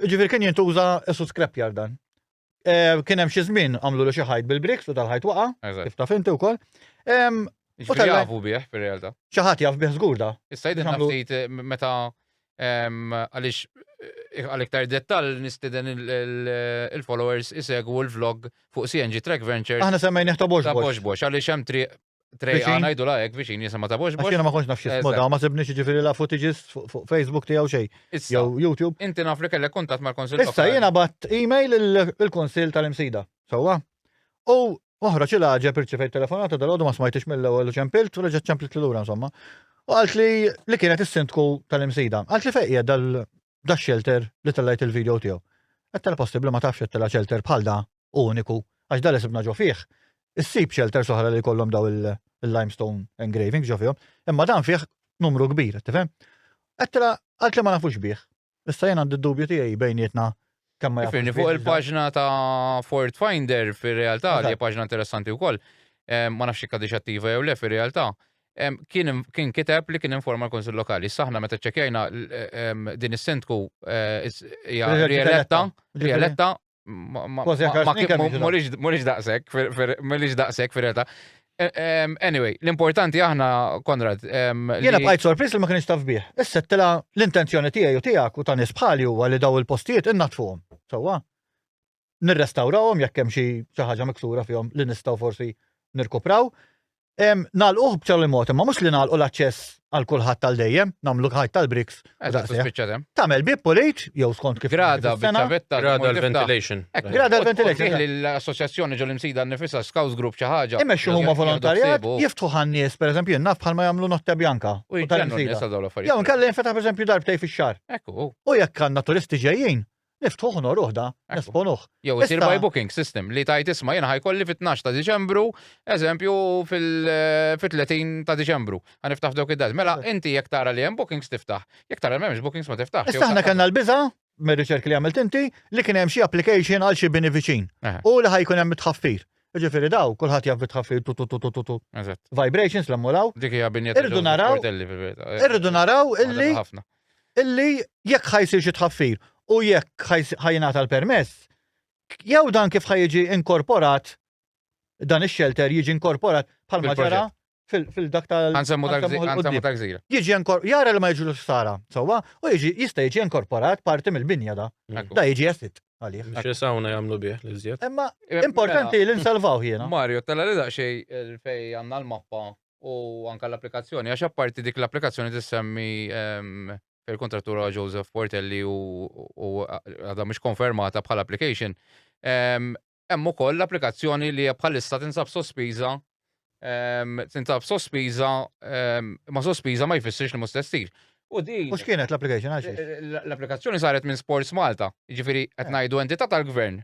Ġifieri kien jintuża esu scrapyard dan. Eh, kien hemm xi żmien għamlu xi ħajt bil-briks u tal-ħajt waqa', kif taf inti wkoll. U tal jafu bih fir-realtà. Xi ħadd jaf bih żgur da. Issa jidħol ftit eh, meta għaliex eh, għal iktar dettal nistiden il-followers isegwu l-vlog fuq CNG Track Ventures. Aħna semmejn ta' box box. Ta' box box, għaliex hemm triq Trejqa ngħidu la hekk viċin jisema ta' box box. Jiena ma kontx naf x'ismu da, ma sibniex jiġifieri la footages fuq Facebook tiegħu xejn. Jew YouTube. Inti naf li kellek kuntatt mal-Kunsill Issa jiena bat email il-Kunsill tal-Imsida. Sewwa? U oħra xi laġeb irċivejt telefonata dal-għodu ma smajtix mill-ewwel u ċempilt u reġgħet ċempilt lura insomma. U qalt li li kienet is-sindku tal-Imsida. Qalt li fejn dal da shelter li tellajt il-video tiegħu. Qed tella possibbli ma tafx qed tella shelter bħal da uniku għax da li sibna ġo fih. Issib shelter soħra li kollhom daw il-limestone engraving ġo fihom, imma dan fih numru kbir, tifhem? Qed tella għalt li ma nafux bih. Issa jien għandi d-dubju tiegħi bejnietna Ifirni fuq il-paġna ta' Ford Finder fir-realtà li paġna interessanti wkoll. Ma nafx jekk għadix attiva jew le fir-realtà. Kien kiteb li kien informa l-Kunsill Lokali. Saħna meta ċċekkjajna din is-sindku hija rieletta, rieletta Morix daqsek, morix daqsek fir-realtà. Anyway, l-importanti aħna, Konrad. Jena bqajt sorpris li ma kienx taf bih. Issa tela l-intenzjoni tiegħi u tiegħek u ta' nies bħali huwa li daw il-postijiet innatfuhom. Sewwa. Nirrestawrawhom jekk hemm xi ħaġa miksura fihom li nistgħu forsi nirkupraw. Nagħlquh b'ċerli mod, imma mhux li nagħlqu l-aċċess għal kulħadd tal dejjem, nagħmlu ħajt tal-briks. Tagħmel bib pulit, jew skont kif. Grada bit-tavetta. Grada l-ventilation. Grada l-ventilation. L-assoċjazzjoni ġol imsida nifisa Scouts Group xi ħaġa. Imexxu huma volontarjat, jiftħu ħannies, pereżempju, naf bħalma jagħmlu notte bjanka. Jew nkella jinfetaħ pereżempju darbtej fix-xahar. U jekk għandna turisti ġejjin, Niftuh u nogħruh da, nesponuh. Jew isir by booking system li tajt isma' jiena ħajkolli fit-12 ta' Diċembru, eżempju fil-30 ta' Diċembru. Ħaniftaħ f'dawk id-dati. Mela inti jekk tara li hemm bookings tiftaħ, jekk tara li m'hemmx bookings ma tiftaħx. Issa aħna kellna l-biża' mir-riċerk li għamilt inti li kien hemm xi application għal xi bini viċin u li ħajkun hemm it-tħaffir. Ġifieri daw kulħadd jaf bit-tħaffir tu tu tu tu tu. Vibrations l-emmulaw. Dik hija binja Irridu naraw. Irridu naraw illi. illi jekk ħa jsir xi tħaffir u jekk ħa jingħata l-permess, jew dan kif ħa jiġi inkorporat dan ix-xelter jiġi inkorporat bħalma ġara fil-dak tal Għanżemmu ta' gżira. Jiġi jara li ma jiġu l-ħsara, sewwa, u jiġi jista' jiġi inkorporat parti mill-binja da. Da jiġi jassit għalih. Xi sawna jagħmlu bih li żjed. Imma importanti li nsalvaw jiena. Mario, tella li daqsxejn fej għandna l-mappa u anka l-applikazzjoni, għax apparti dik l-applikazzjoni tissemmi ehm, il-kontrattura Joseph Portelli u għadha mhux konfermata bħal application. Ehm, hemm ukoll l-applikazzjoni li bħalissa tinsab sospiża ehm, tinsab sospiża ma sospiża ma jfissirx li mhux testir. U di. Mhux kienet l-application għax. L-applikazzjoni saret minn Sports Malta, jiġifieri qed eh. ngħidu entità tal-gvern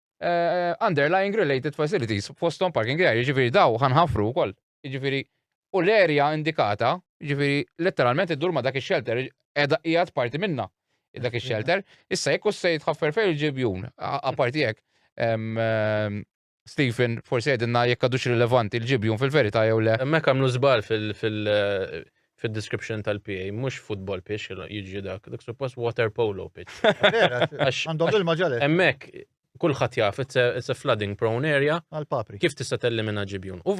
underlying related facilities, fostom parking area, ġifiri daw ħanħafru u koll. Ġifiri, u l-area indikata, ġifiri, letteralment id-dur ma dak il-shelter, edha ijat parti minna dak il-shelter. Issa, jekk u s-sejt ħaffer fej il-ġibjun, għaparti jek, Stephen, forse għedinna jekk għadux rilevanti il-ġibjun fil-verita jew le. Mek għamlu zbal fil- fid-description tal-PA, mhux football pitch, jiġi dak, dak suppost water polo pitch. Għandhom il maġġalet Emmek, kullħat jaf, it's a, it's a flooding prone area. Għal-papri. Kif tista' tellimina ġibjun? U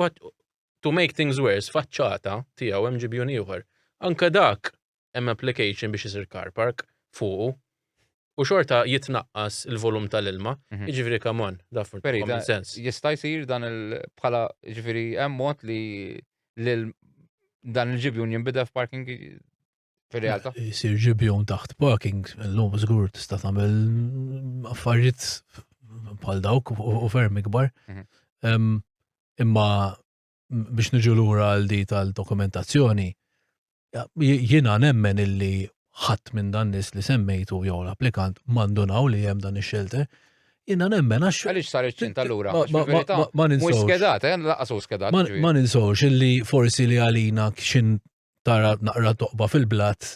to make things worse, faċċata tiegħu hemm ġibjun ieħor. Anka dak hemm application biex isir car park fuqu. u xorta jitnaqqas il-volum tal-ilma, mhm. jiġifieri come on, daf common sense. Jista' jsir dan il-bħala jiġifieri hemm mod li dan il-ġibjun jinbidel f'parking fil-realtà. Jsir ġibjun taħt parking, l-lum żgur tista' tagħmel affarijiet bħal dawk u ferm ikbar. Mhm. Imma biex niġu lura għal di tal-dokumentazzjoni, jiena nemmen illi ħadd minn dan nis li semmejtu jew l-applikant mandunaw li hemm dan ix-xelter, jiena nemmen għax. Għaliex sar iċ-ċint allura? Ma ninsewx. Mhux skedat, eh, laqas skedat. Ma ninsewx illi forsi li għalina x'in tara naqra toqba fil-blat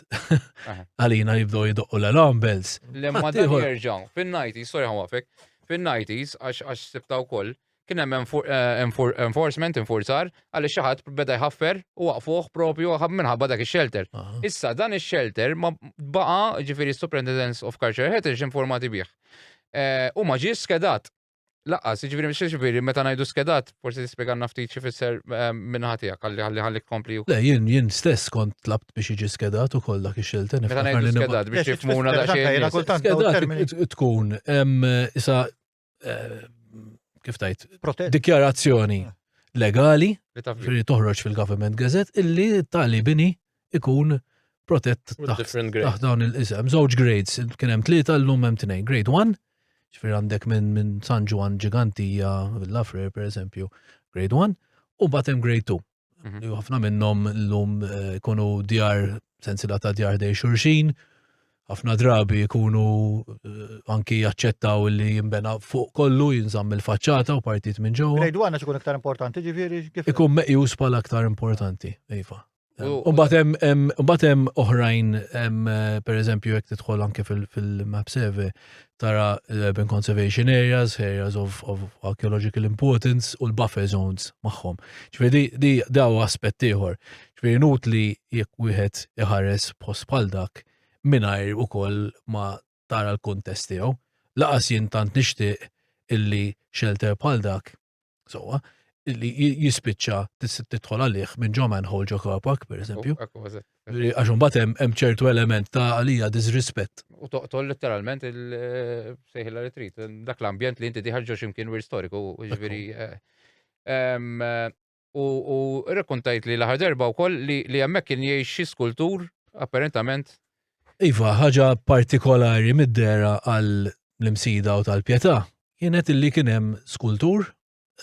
għalina jibdow jidoqqu l-alarm bells. Lemma dan jirġaw, fin-90s, sorry għafek, fin-90s, għax sibta u koll, kien hemm eh, enforcement, enforzar, għalli xaħat beda jħaffer u waqfuħ propju għab minħabba dak il-shelter. Issa dan il-shelter ma baqa ġifiri Superintendence of Culture Heritage informati bieħ. Eh, u ma ġiex skedat. Laqqas, ġviri, mxie ġviri, meta najdu skedat, forsi t-spieganna ftit xifisser eh, minnaħatija, kalli għalli għalli kompli. Le, jien, jien stess kont tlabt biex iġi skedat u koll dak ix-xelten. Meta najdu skedat biex jifmuna da xejn. Skedat tkun, isa, eh, kif tajt, dikjarazzjoni ah. legali, li toħroġ fil-Government Gazette, illi tali bini ikun protett taħt dawn il-isem. Żewġ grades, kien hemm tlieta llum hemm tnejn. Grade 1, ġifier għandek minn min San Ġwan Ġigantija, Villa Frer pereżempju, grade 1, u mbagħad hemm grade 2. Mhm. Ħafna minnhom llum eh, ikunu djar sensila ta' djar dej xurxin, ħafna drabi jkunu eh, anki jaċċettaw li jimbena fuq kollu jinżamm il-faċċata u partit minn ġewwa. Grade 1 ikun iktar importanti ġifieri kif ikun meqjus bħala aktar importanti, iva. U batem, batem oħrajn, per eżempju, jek titħol anke fil-map survey, tara urban conservation areas, areas of, of archaeological importance u l-buffer zones maħħom. ċvedi, di daw aspett ieħor. ċvedi nut li jek wieħed iħares post bħal dak, minajr u koll ma tara l-kuntest tiegħu. Laqas jien tant nixtieq illi xelter bħal dak, sowa, illi jispiċċa tidħol għalih minn ġo manhole ġo car park, per eżempju. Għax imbagħad hemm ċertu element ta' għalija disrispett. U toqtol letteralment il-sejħila eh, li trid, dak l-ambjent li inti diħarġu x'imkien wir storiku, ġifieri. Eh, eh, U, u rekontajt li l-aħħar darba wkoll li, li hemmhekk kien jgħix xi skultur apparentament. Iva, ħaġa partikolari mid-dera għal l-imsida u tal-pjetà kienet illi kien hemm skultur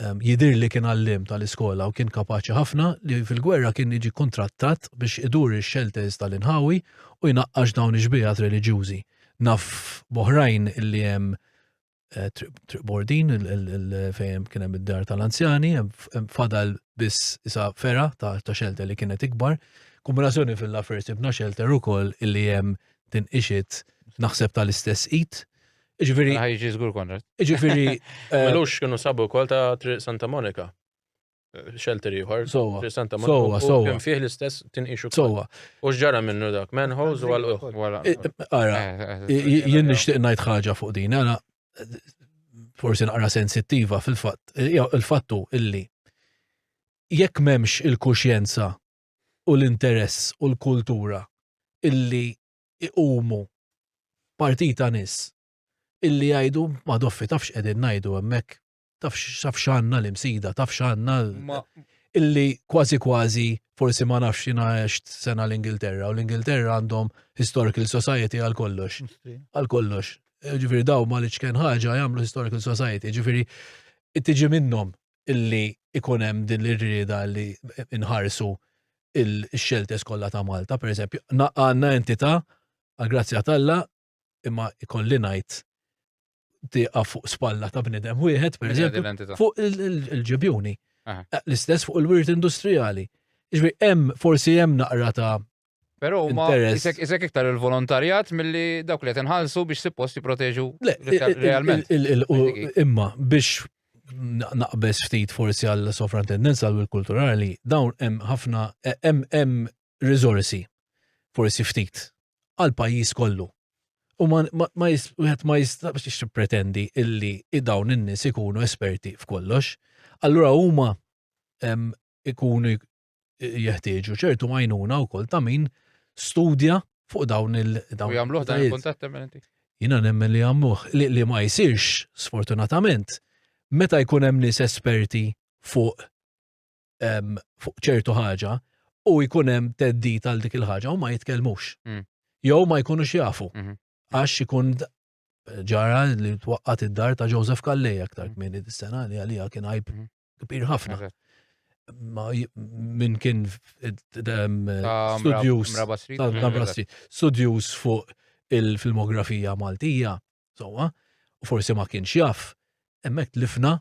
ehm, jidir li kien għallim tal-iskola u kien kapaċi ħafna li fil-gwerra kien jiġi kontrattat biex idur ix-xelters tal-inħawi u jnaqqax dawn ix-xbiehat reliġjużi. Naf boħrajn illi hemm eh, Triq Bordin fejn kien hemm id-dar tal-anzjani, hemm fadal biss isa fera ta' xelter li kienet ikbar. Kombinazzjoni fil-lafer sibna xelter ukoll illi hemm tinqixit naħseb tal-istess it. Iġviri. Ħajġi żgur Konrad. Iġviri. Eh, Melux kienu sabu wkoll ta' Triq Santa Monika. Xelter ieħor. Sowa. Santa Sowa, sowa. Kien fih l-istess tinqixu. Sowa. U x'ġara minnu dak? Menħoż u għal wara. Ara, jien nixtieq ngħid ħaġa fuq din, għana forsi naqra sensittiva fil-fatt, il-fattu illi jekk memx il-kuxjenza u l-interess u l-kultura illi iqumu partita nis illi jgħidu ma doffi tafx qegħdin ngħidu hemmhekk taf xanna l-imsida, taf xanna illi kważi kważi forsi ma nafx jina għext sena l-Ingilterra u l-Ingilterra għandhom historical society għal kollox. Għal kollox. Ġifiri daw ma li ċken ħaġa jgħamlu historical society. Ġifiri tiġi minnom illi ikunem din l-irrida li inħarsu il-xeltes kollha ta' Malta, per eżempju, għanna entita' għal-grazzja talla imma ikolli ngħid tieqa fuq spalla ta' bnidem wieħed, per eżempju, fuq il-ġibjuni. L-istess fuq il-wirt industrijali. Iġbi, hemm, forsi hemm naqra ta' Pero ma isek iktar il-volontarjat mill-li dawk li tinħalsu biex suppost jiproteġu realment. Imma biex naqbes ftit forsi għall sofrantendenza għal kulturali dawn hemm ħafna hemm hemm riżorsi, forsi ftit, għal pajjiż kollu. U ma wieħed ma jistax tippretendi illi dawn in-nies ikunu esperti f'kollox. Allura huma ikunu jeħtieġu ċertu għajnuna wkoll ta' min studja fuq dawn il-dawn. Jagħmluh dan il-kuntatt temminenti. Jiena nemmen li jagħmluh li ma jsirx sfortunatament meta jkun hemm nies esperti fuq fuq ċertu ħaġa u jkun hemm teddit għal dik il-ħaġa u ma jitkellmux. Mm. Jew ma jkunux jafu. Mhm. Għax ikun ġara li twaqqat id-dar ta' Joseph Kallej aktar minn mm. id-sena li għalija kien għajb mhm. kbir ħafna. Min kien studjus studjus fuq il-filmografija Maltija, sowa, u forsi ma kienx jaf, emmek tlifna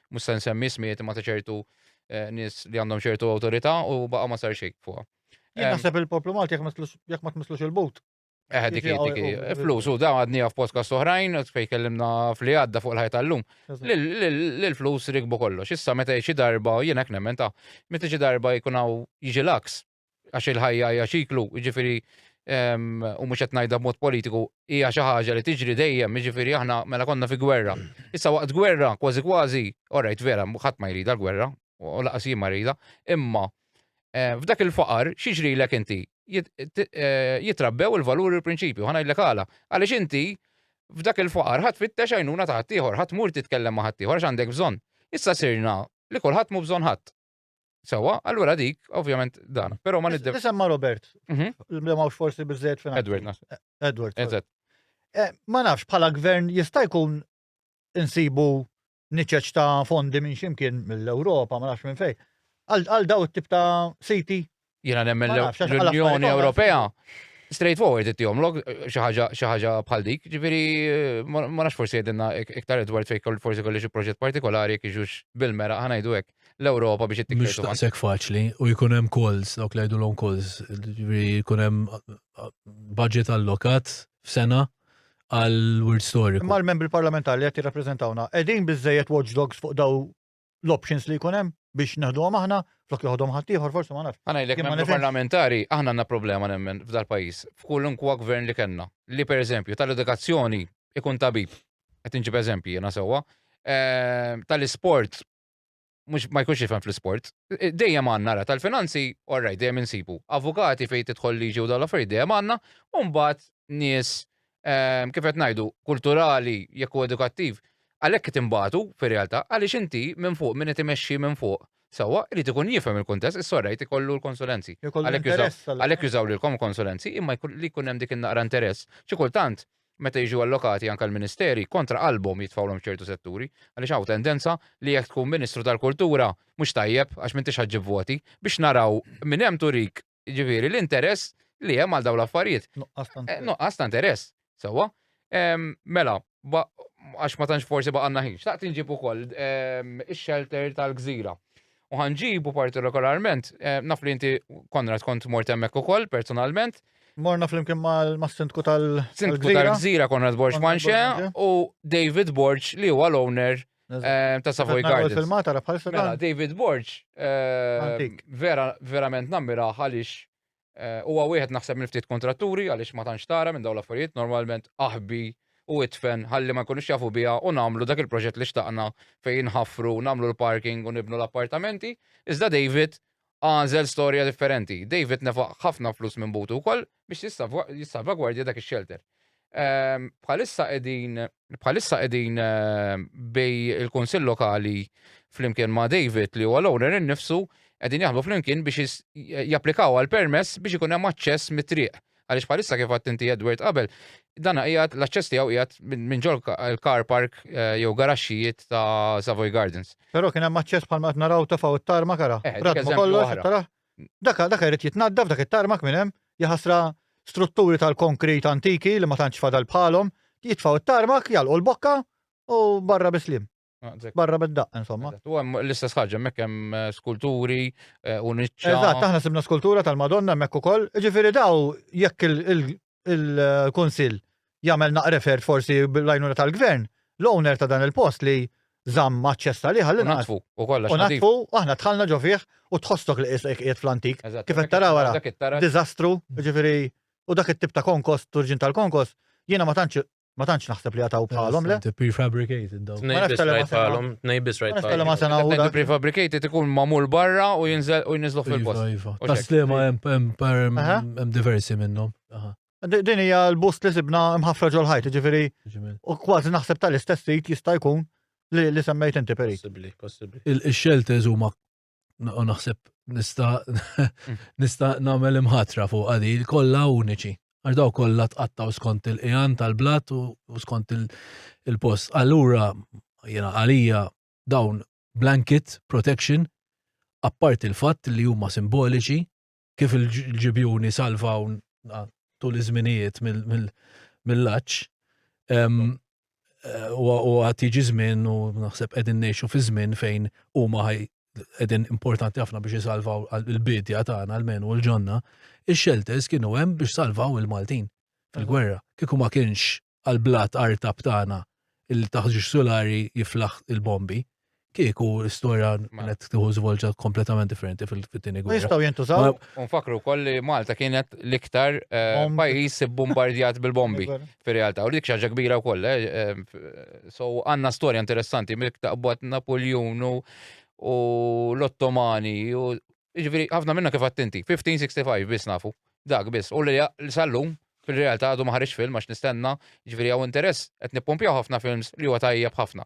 mhux se nsemmi ismijiet ma ta' ċertu eh, nies li għandhom ċertu awtorità u baqa' ma sar xejn fuqha. Jien naħseb il-poplu Malti jekk ma tmislux il-but. Eh, dik dik eh, flus u dawn għadni għaf podcast oħrajn, fej kellimna fli għadda fuq l-ħajta l-lum. L-flus rikbu kollox. Issa meta xi darba, jien hekk nemmen ta' meta xi darba jkun hawn jiġi laks, għax il-ħajja hija ċiklu, jiġifieri u mhux qed ngħidha b'mod politiku, hija xi ħaġa li tiġri dejjem, jiġifieri aħna mela konna fi gwerra. Issa waqt gwerra, kważi kważi, orajt vera, ħadd ma jrida l-gwerra, u laqas jien ma rida, imma eh, f'dak il-faqar xiġrilek inti eh, jitrabbew il-valuri u l-prinċipju, ħana jillek għala. Għaliex inti f'dak il-faqar ħadd fittex għajnuna ta' ħaddieħor, ħadd mur titkellem ma' ħaddieħor għax għandek bżonn. Issa sirna li kulħadd mu bżonn ħadd. Sewa, allura dik, ovvjament, dan. Pero ma niddew. Tisemma Robert. Mhm. Li mawx forsi bizzejt fina. Edward, naf. Edward. Eżat. Eh, ma nafx, bħala gvern jista' jkun insibu niċeċ ta' fondi minn ximkien mill-Europa, ma nafx minn fej. Għal daw it-tip ta' siti Jiena nemmen l-Unjoni Ewropea straightforward it-tijomlok xaħġa bħal dik, ġifiri ma nafx forsi jedinna iktar Edward fejk forsi kolli xi proġett partikolari kieġux bil-mera ħanajdu hekk l-Ewropa biex it-tikka. Mux taqsek faċli u jkun hemm calls, dawk li jgħidulhom calls, jkun hemm budget allokat f'sena għal word story. Imma l-membri parlamentari li qed jirrappreżentawna qegħdin biżejjed watchdogs fuq daw l-options li jkun hemm biex neħduhom aħna flok joħodhom ħaddieħor forsi ma nafx. Għana jlek membru parlamentari aħna għandna problema nemmen f'dal pajjiż f'kulunkwa gvern li kellna li pereżempju tal-edukazzjoni ikun tabib qed inġib eżempji jiena sewwa ehm, tal-isport mux ma jkunx jifhem fl-isport. E, dejjem għandna ra tal-finanzi, orraj, dejjem insibu. Avukati fejn tidħol liġi u dal-affarijiet dejjem għandna, u mbagħad nies ehm, kif qed ngħidu, kulturali jekk u edukattiv, għalhekk qed imbagħtu fir-realtà għaliex inti minn fuq minn qed imexxi minn fuq sewwa irid ikun jifhem il-kuntest is-sorrejt ikollu l-konsulenzi. Għalhekk jużaw lilkom konsulenzi imma li jkun hemm dik in-naqra interess. Xi kultant meta jiġu allokati anke l-ministeri kontra qalbhom jitfawlhom ċertu setturi għaliex hawn tendenza li jekk tkun Ministru tal-Kultura mhux tajjeb għax m'intix ħaġġib voti biex naraw minn hemm turik Ġifieri l-interess li hemm għal dawn l-affarijiet. Eh, nuqqas ta' interess, sewwa. Mela, għax ma tantx forsi baqanna ħin, xtaqt inġib ukoll ix-shelter tal-gżira. U ħanġibu partikolarment, eh, naf li inti Konrad kont mort hemmhekk ukoll personalment. Morna flimkien mal-sindku tal-gżira. Tal-gżira Konrad Borġ Manxe u David Borġ li huwa l-owner Eh, ta' Savoy Gardens. Il-filmata ra bħal Mela, David Borg, eh, vera, verament nammira għalix eh, huwa wieħed naħseb minn ftit kontratturi għaliex ma tantx tara minn dawn l-affarijiet normalment aħbi u itfen ħalli ma jkunux jafu biha u nagħmlu dak il-proġett li xtaqna fejn ħafru, nagħmlu l-parking u nibnu l-appartamenti. Iżda David Għażel storja differenti. David nefaq ħafna flus minn butu wkoll biex jissalvagwardja dak ix-xelter. Ehm, bħalissa qegħdin bħalissa qegħdin ehm, bej il-Kunsill Lokali flimkien ma' David li huwa l-owner innifsu qegħdin jaħdmu flimkien biex japplikaw għal permess biex ikun hemm aċċess mit-triq Għaliex bħalissa kif għadt inti Edward qabel, dana qiegħed l-aċċess tiegħu qiegħed minn ġol il-car park eh, jew garaxxijiet ta' Savoy Gardens. Però kien hemm aċċess bħalma qed naraw tafgħu it-tarma kara. Eh, Radmu kollox tara. Daka daka jrid jitnaddaf dak it-tarmak minn hemm, jaħasra strutturi tal-konkrit antiki li ma tantx fadal bħalhom, jitfgħu it-tarmak, jalqu l-bokka u barra bislim. Barra minn daqqa, insomma. U hemm l-istess ħaġa, hemmhekk hemm eh, skulturi eh, u niċċa. Eżatt, aħna sibna skultura tal-Madonna hemmhekk ukoll. Ġifieri daw jekk il-Kunsill jagħmel naqrefert forsi bil-lajnuna tal-Gvern, l-owner ta' dan il-post li zamm maċċess li ħalli natfu u kollha. U natfu aħna dħalna ġo fih u tħossok li qisek qiegħed fl-antik. Kif qed tara wara diżastru, ġifieri u dak it-tip ta' konkos, turġin tal-konkos, jiena ma tantx Ma tantx naħseb li għataw bħalhom le. Prefabricated daw. Tnejbis rajt bħalhom, tnejbis rajt bħalhom. Ma sena u prefabricated ikun mamul barra u jinżel u jinżlu fil-post. Iva, iva. Taslima hemm diversi minnhom. Din hija l-bust li sibna mħafra ġol ħajt, ġifieri. U kważi naħseb tal-istess sit jista' jkun li semmejt inti perit. Possibbli, possibbli. Il-shelters huma u naħseb nista nista nagħmel imħatra fuq għadi kollha uniċi. Għax daw kollha tqattaw skont il-qiegħan tal-blat u skont il-post. Allura jiena għalija dawn blanket protection apparti l-fatt li huma simboliċi kif il-ġibjuni salvaw tul iż-żminijiet mill-laċ. U għat jiġi żmien u naħseb qegħdin ngħixu fi żmien fejn huma ħaj qegħdin importanti ħafna biex isalvaw il-bidja tagħna almenu l-ġonna. Ix-shelters kienu hemm biex salvaw il-Maltin fil-gwerra. Kieku ma kienx għall-blat artab tagħna illi taħt ġiex sulari jiflaħ il-bombi, kieku l-istorja kienet tieħu żvolġa kompletament differenti fil-tieni gwerra. Jistgħu jintużaw. Unfakru wkoll li Malta kienet l-iktar eh, pajjiż bombardjat bil-bombi fir-realtà u dik xaġa kbira wkoll. Eh, eh, so għandna storja interessanti miktaqbad Napoljun u l-Ottomani u Jiġifieri ħafna minna kif għedt inti, 1565 biss nafu, dak biss, u li sal-lum fil-realtà għadu ma ħareġx film għax nistenna, jiġifieri hawn interess, qed nippumpjaw ħafna films li huwa tajjeb ħafna.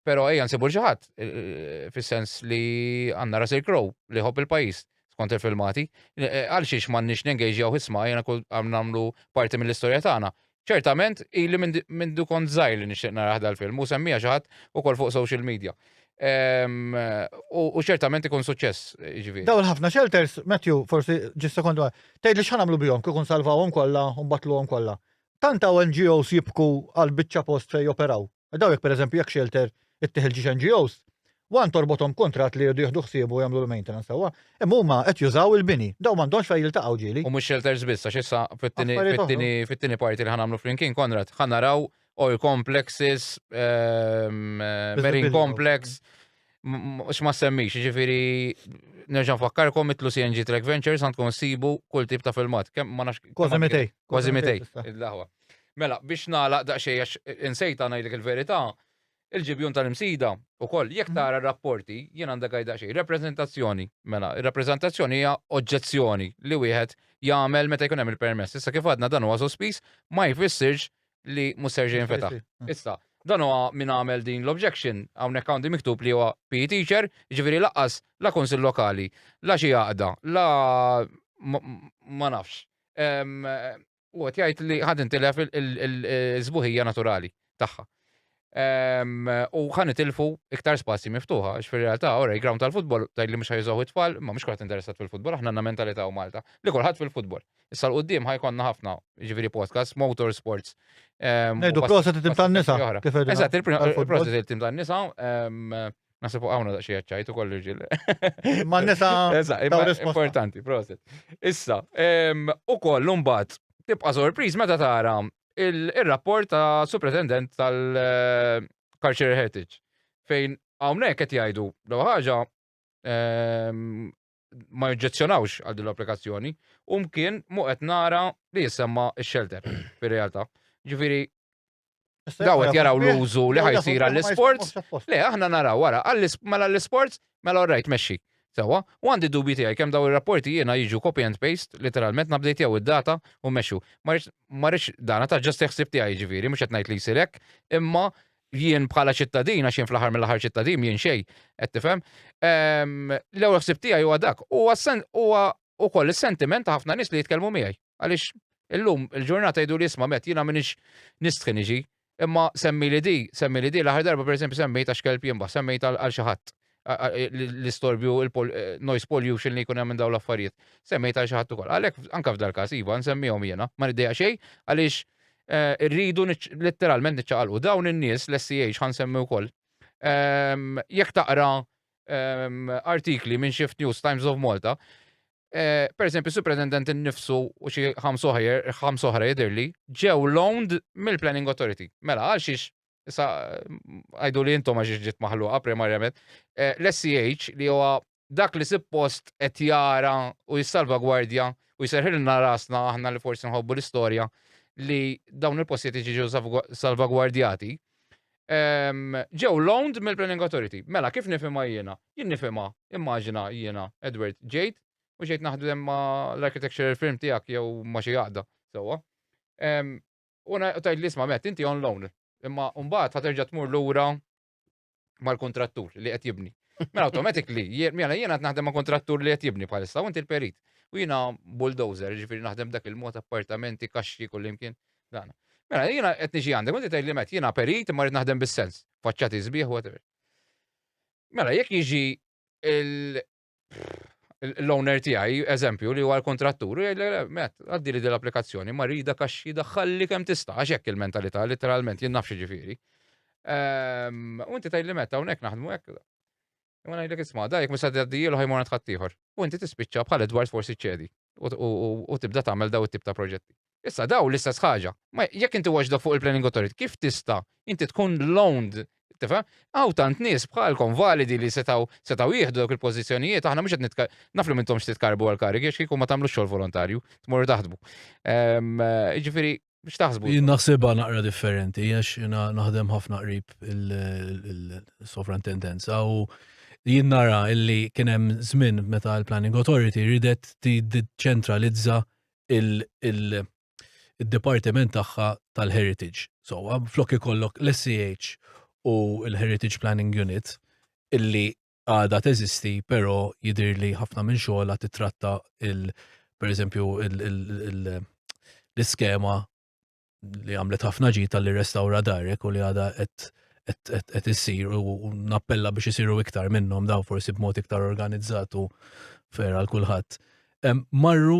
Però ejja nsibu l xi ħadd fis-sens li għandna Russell Crowe li jħobb il-pajjiż skont il-filmati, għalxiex m'għandniex nengejġjaw isma' ejja nagħmlu parti mill-istorja tagħna. Ċertament, ili mindu kont zaħir li nixtieq naraħ dal-film, u semmija xaħat u kol fuq social media. Ehm, u ċertament ikun suċċess, ġivi. Daw il-ħafna shelters, Matthew, forsi ġis sekondu għaj, tgħid li xħan għamlu bihom kikun salvawhom kollha u għom kollha. Tant hawn NGOs jibku għal biċċa post fejn joperaw. Daw jekk pereżempju jekk shelter ittieħ il-ġiex NGOs, one torbothom kuntratt li jridu jieħdu ħsiebu jagħmlu l-maintenance sewwa, imma huma qed jużaw il-bini. Daw m'għandhomx fejn jiltaqgħu ġieli. U mhux shelters biss għax issa fit-tieni parti li ħa nagħmlu flimkien Konrad, ħa naraw oil complexes, marine complex, x'ma semmix, jiġifieri nerġa' nfakkarkom itlu CNG Track Ventures għandkom issibu kull tip ta' filmat. Kemm ma nafx. Kważi mitej. Kważi mitej. Il-laħwa. Mela, biex nagħlaq daqsxejn għax insejta ngħidlek il-verità, il-ġibjun tal-imsida ukoll jekk mhm. tara rapporti jien għandha għajda xejn rappreżentazzjoni. Mela, ir-rappreżentazzjoni hija oġġezzjoni li wieħed jagħmel meta jkun hemm il-permess. Issa kif għadna dan huwa sospiż ma jfissirx li mhux ser jinfetaħ. Mhm. Issa, dan huwa min għamel din l-objection hawnhekk għandi miktub li huwa PE teacher, ġifieri laqqas la konsil lokali, la xi għaqda, la ma nafx. U qed jgħid li ħad intilef il-sbuħija naturali tagħha. Ehm, u ħan itilfu iktar spazji miftuħa, għax fil-realtà, ora, ground tal-futbol, taj li mux ħajżaw it-tfal, ma mux kħat interessat fil-futbol, ħna għanna mentalità u Malta, li kolħat fil-futbol. Issa l-qoddim ħajkonna ħafna, ġiviri podcast, motorsports. Ehm, Nejdu proset it-tim tan-nisa. Eżat, il-proset il-tim tan-nisa. Ehm, Nasib u għawna daqxie għacċajt u kollu ġil. Ma nisa. Importanti, proset. Issa, u kollu mbat, tibqa sorpriz meta tara il-rapport ta' supretendent tal-Culture Heritage fejn għawnek qed jgħidu l ħaġa ma jġezzjonawx għal din l-applikazzjoni, u mkien mu qed nara li jisemma x-shelter fir-realtà. Ġifieri daw qed jaraw l-użu li ħajsir għall-isports. Le, aħna naraw wara, mela l-isports, mela rajt mexxi. Sewa, u għandi dubi tiegħi kemm daw ir-rapporti jiena jiġu copy and paste, literalment nabdejt jew id-data u mexxu. Ma rridx dana ta' ġast ħsib tiegħi ġifieri, mhux qed ngħid li jsir hekk, imma jien bħala ċittadin, għax jien fl-aħħar mill-aħħar ċittadin, jien xej, qed tifhem, l-ewwel ħsieb tiegħi huwa dak. Huwa ukoll is-sentiment ta' ħafna nies li jitkellmu miegħi. Għaliex illum il-ġurnata jgħidu li isma' met jiena minix nistħi niġi, imma semmi li di, semmi li di, l-aħħar darba pereżempju semmejt għax kelb jimbaħ, semmejt għal xi ħadd. l-istorbju, il-noise pollution li jkun hemm minn dawn l-affarijiet. Semmejt għal xi ħadd ukoll. Għalhekk anke f'dal każ iva nsemmihom jiena, ma niddejja xejn għaliex eh, rridu letteralment niċċaqalqu dawn in-nies l-SCH ħan semmi wkoll. Ehm, jekk taqra ehm, artikli minn Shift News Times of Malta, eh, per esempio, superintendent innifsu u xi ħamsoħra jidirli ġew loaned mill-Planning Authority. Mela, għal xiex Issa għajdu li intom għax ġiet maħluqa primarjament. Eh, L-SCH li huwa dak li suppost qed jara u jissalvagwardja u jserħilna rasna aħna li forsi nħobbu l-istorja li dawn il-postijiet jiġu salvagwardjati. Ehm, ġew loaned mill-Planning Authority. Mela, kif nifima jiena? Jien nifima, immaġina jiena, Edward, ġejt, u ġejt naħdem ma l-architectural firm tijak jew ma xi għaqda, sewa. Ehm, U tgħid li isma' met, inti on loan, imma mbagħad ħa terġa' tmur lura mal-kontrattur li qed jibni. Mela automatically, mela jiena qed naħdem ma' kontrattur li qed jibni bħalissa, u inti l-perit. U jiena bulldozer, ġifieri naħdem dak il-mod appartamenti, kaxxi kullimkien. Dan. Mela jiena qed niġi għandek, u inti tgħid li met jiena perit imma rrid naħdem bis-sens, faċċati sbieħ whatever. Mela jekk jiġi l-owner tiegħi, eżempju, li huwa l-kontrattur, jgħidlek, met, għaddi li dil-applikazzjoni, ma rida kaxxi daħħalli kemm tista' għax hekk il-mentalità literalment jien nafx ġifieri. Ehm, u inti tgħidli meta hawnhekk naħdmu hekk. U ngħidlek isma' dajk mhux se tgħaddijielu ħajmur għand ħaddieħor. U inti tispiċċa bħal Edward forsi ċedi. u tibda tagħmel daw it-tip ta' proġetti. Issa daw l-istess ħaġa. Ma jekk inti watchdog fuq il-planning authority, kif tista' inti tkun loaned Tifhem? Għaw tant nies bħalkom validi li setaw setaw jieħdu dawk il-pożizzjonijiet, aħna mhux qed nitka naf li mintomx titkarbu għal karigi għax kieku ma tagħmlux xogħol volontarju, tmorru taħdmu. Ehm, jiġifieri Biex taħsbu. Jien naħsibha naqra differenti, għax jina naħdem ħafna qrib il-sovrantendenza u jien nara illi kien hemm żmien meta l-Planning Authority ridet tiċċentralizza il-dipartiment tagħha tal-Heritage. So, flok ikollok l-SCH u l-Heritage Planning Unit illi għadha teżisti, però jidir li ħafna minn xogħla titratta il per eżempju l-iskema li għamlet ħafna ġi tal-li restawra darek u li għada qed issir u nappella biex isiru iktar minnhom daw forsi b'mod iktar organizzatu fera l kulħadd. Marru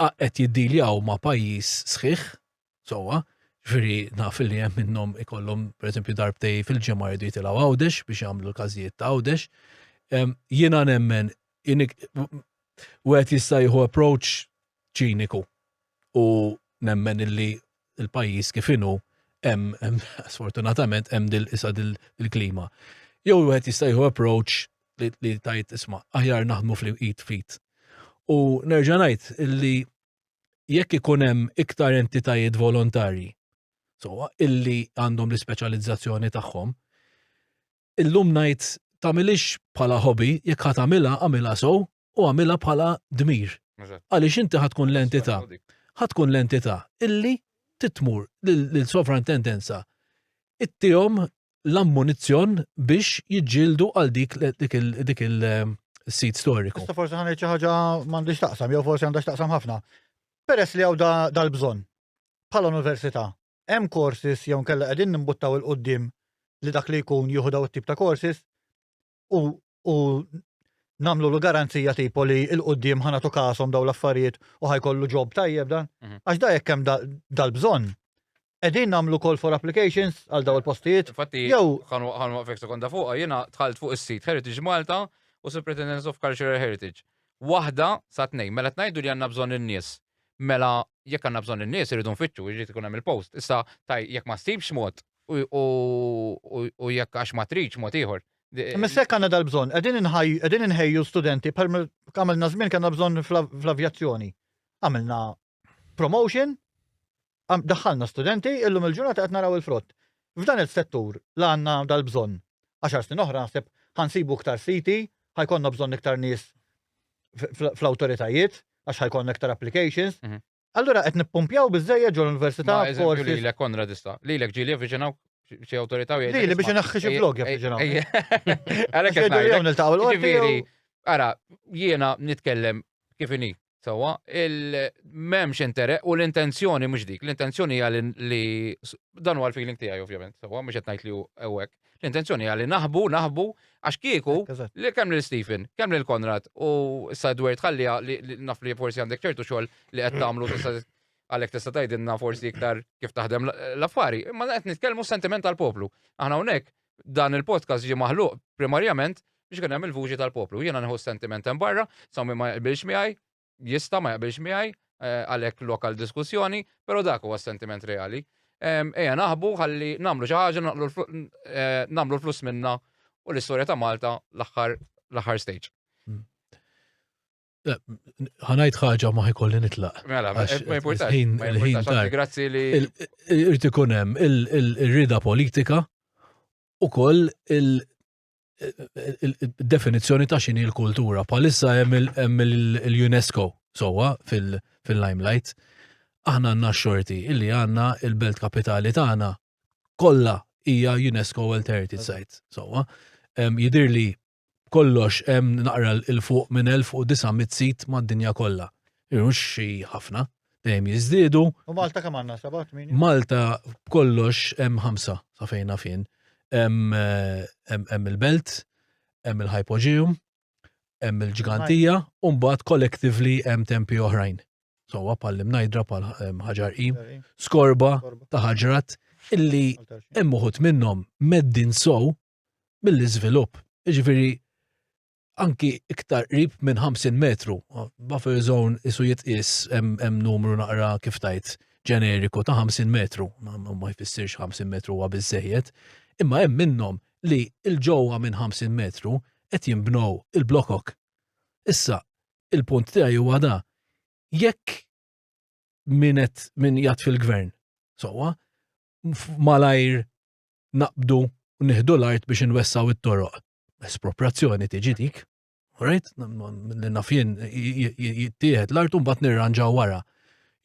qed jiddiljaw ma' pajjiż sħiħ sewwa, ġifieri naf li hemm minnhom ikollhom pereżempju darbtej fil-ġimgħa jridu jitilgħu Għawdex biex jagħmlu l-każijiet ta' Għawdex. Jiena nemmen wieħed jista' jieħu approach ċiniku u nemmen illi il-pajjiż kif inhu hemm sfortunatament hemm dil isa dil-klima. Jew wieħed jista' jieħu approach li tajt isma' aħjar naħdmu fl-id fit. U nerġa' ngħid illi jekk ikun hemm iktar entitajiet volontarji, so illi għandhom l-ispeċjalizzazzjoni tagħhom, illum ngħid tagħmilix bħala hobby, jekk ħatamilha għamilha sow u għamilha bħala dmir. Għaliex inti ħatkun l-entità, ħatkun l-entità illi titmur l-sovrantendenza ittihom l-ammunizzjon biex jiġġieldu għal dik dik il-sit eh, storiku. Issa forsi ħanejt xi ħaġa m'għandix taqsam, jew forsi għandha taqsam ħafna. Peress li hawn dal-bżonn bħala università, hemm korsis jew nkella qegħdin nimbuttaw il-qudiem li dak li jkun jieħu daw it-tip ta' korsis, u, u namlu l garanzija tipo li il-qoddim ħana tu kasom daw l-affarijiet u ħajkollu ġob tajjeb dan. Mhm. Għax da jekk hemm dal-bżonn. Edin namlu call for applications għal daw il-postijiet. Fatti, jew ħanu għafek sekonda fuqa, jena tħalt fuq is-sit Heritage Malta u Superintendence of Cultural Heritage. Waħda sa tnejn, mela tnajdu li għanna bżonn in-nies. Mela jekk għanna bżonn in-nies irridu nfittxu, jrid ikun hemm il-post. Issa taj jekk ma stibx mod, u jekk għax ma tridx mod ieħor. Imma issa jekk għandna dal-bżonn, qegħdin inħaj- qegħdin inħejju studenti bħal ma għamilna żmien kellna bżonn fl-av- fl-avjazzjoni. Għamilna promotion, għam- daħħalna studenti, illum il-ġurnata qed naraw il-frott. F'dan is-settur la għandna dal-bżonn. Għaxar snin oħra naħseb ħansibu iktar siti, ħajkonna bżonn iktar nies f- fl- fl-awtoritajiet, għax ħajkonna iktar applications, Mhm. Allura qed nippumpjaw biżejjed ġol università Ma eżempju forsi. lilek Konrad issa. Lilek ġieli avviċinaw xi awtorità u jgħidlek. Li li biex "Isma', inaħħi xi ej- blog ej- jaffiġinaw. ej- Għalhekk qed Jgħidu li jew ngħidlek. niltaqgħu l-qorti Ġifieri, jew- ara, jiena nitkellem kif inhi, sewwa, il-memx intere u l-intenzjoni mhux dik. L-intenzjoni hija li- li dan huwa l-feeling tiegħi ovvjament, sewwa, mhux qed ngħid li hu hekk. L-intenzjoni hija li naħbu, naħbu, għax kieku li kemm lil Stephen, kemm lil Konrad u issa Edward ħalli li naf li forsi għandek ċertu xogħol li qed tagħmlu għalhekk tista' tgħidilna forsi iktar kif taħdem l-affari, imma qed nitkellmu sentiment tal-poplu. Aħna hawnhekk dan il-podcast ġie maħluq primarjament biex kien hemm il-vuġi tal-poplu. Jiena nħu sentiment hemm barra, sa ma jqbilx miegħi, jista' ma jaqbilx miegħi għalhekk lokal diskussjoni, però dak huwa sentiment reali. Ejja naħbu ħalli nagħmlu xi ħaġa nagħmlu flus minna u l-istorja ta' Malta l-aħħar l-aħħar stage. Hmm. Ħanajt ħaġa ma ħikolli nitlaq. Mela, ma jimportax. Il-ħin ta' grazzi li. Irrid ikun hemm il-rida politika u koll il- definizzjoni ta' xini l-kultura. Palissa hemm l-UNESCO sowa fil-limelight. Aħna għandna xorti illi għandna il-belt kapitali tagħna kollha hija UNESCO World Heritage Site. Sowa, jidir li kollox hemm naqra l-fuq minn 1900 sit mad-dinja kollha. Irux xi ħafna. dejjem jiżdiedu. U Malta kemm għandna seba' tmien? Malta b'kollox hemm ħamsa sa fejna fin. Hemm eh, il-Belt, hemm il-Hypogeum, hemm il-Ġgantija, u mbagħad collectively hemm tempi oħrajn. Sowa pal imnajdra pal ħaġar i, skorba ta' ħaġrat illi hemm uħut minnhom meddin sow mill-iżvilupp. Jiġifieri anki iktar qrib minn 50 metru. Buffer zone isu jitqis hemm numru naqra kif tajt ġeneriku ta' 50 metru, ma jfissirx 50 metru huwa biżejjed, imma hemm minnhom li l-ġewwa minn 50 metru qed jinbnew il-blokok. Issa, il-punt tiegħi huwa da, jekk min qed min jgħat fil-gvern, sowa, malajr naqbdu nieħdu l-art biex inwessaw it-toroq espropriazzjoni tiġi dik, right? Li nafjen jittieħed l-art un bat nirranġaw wara.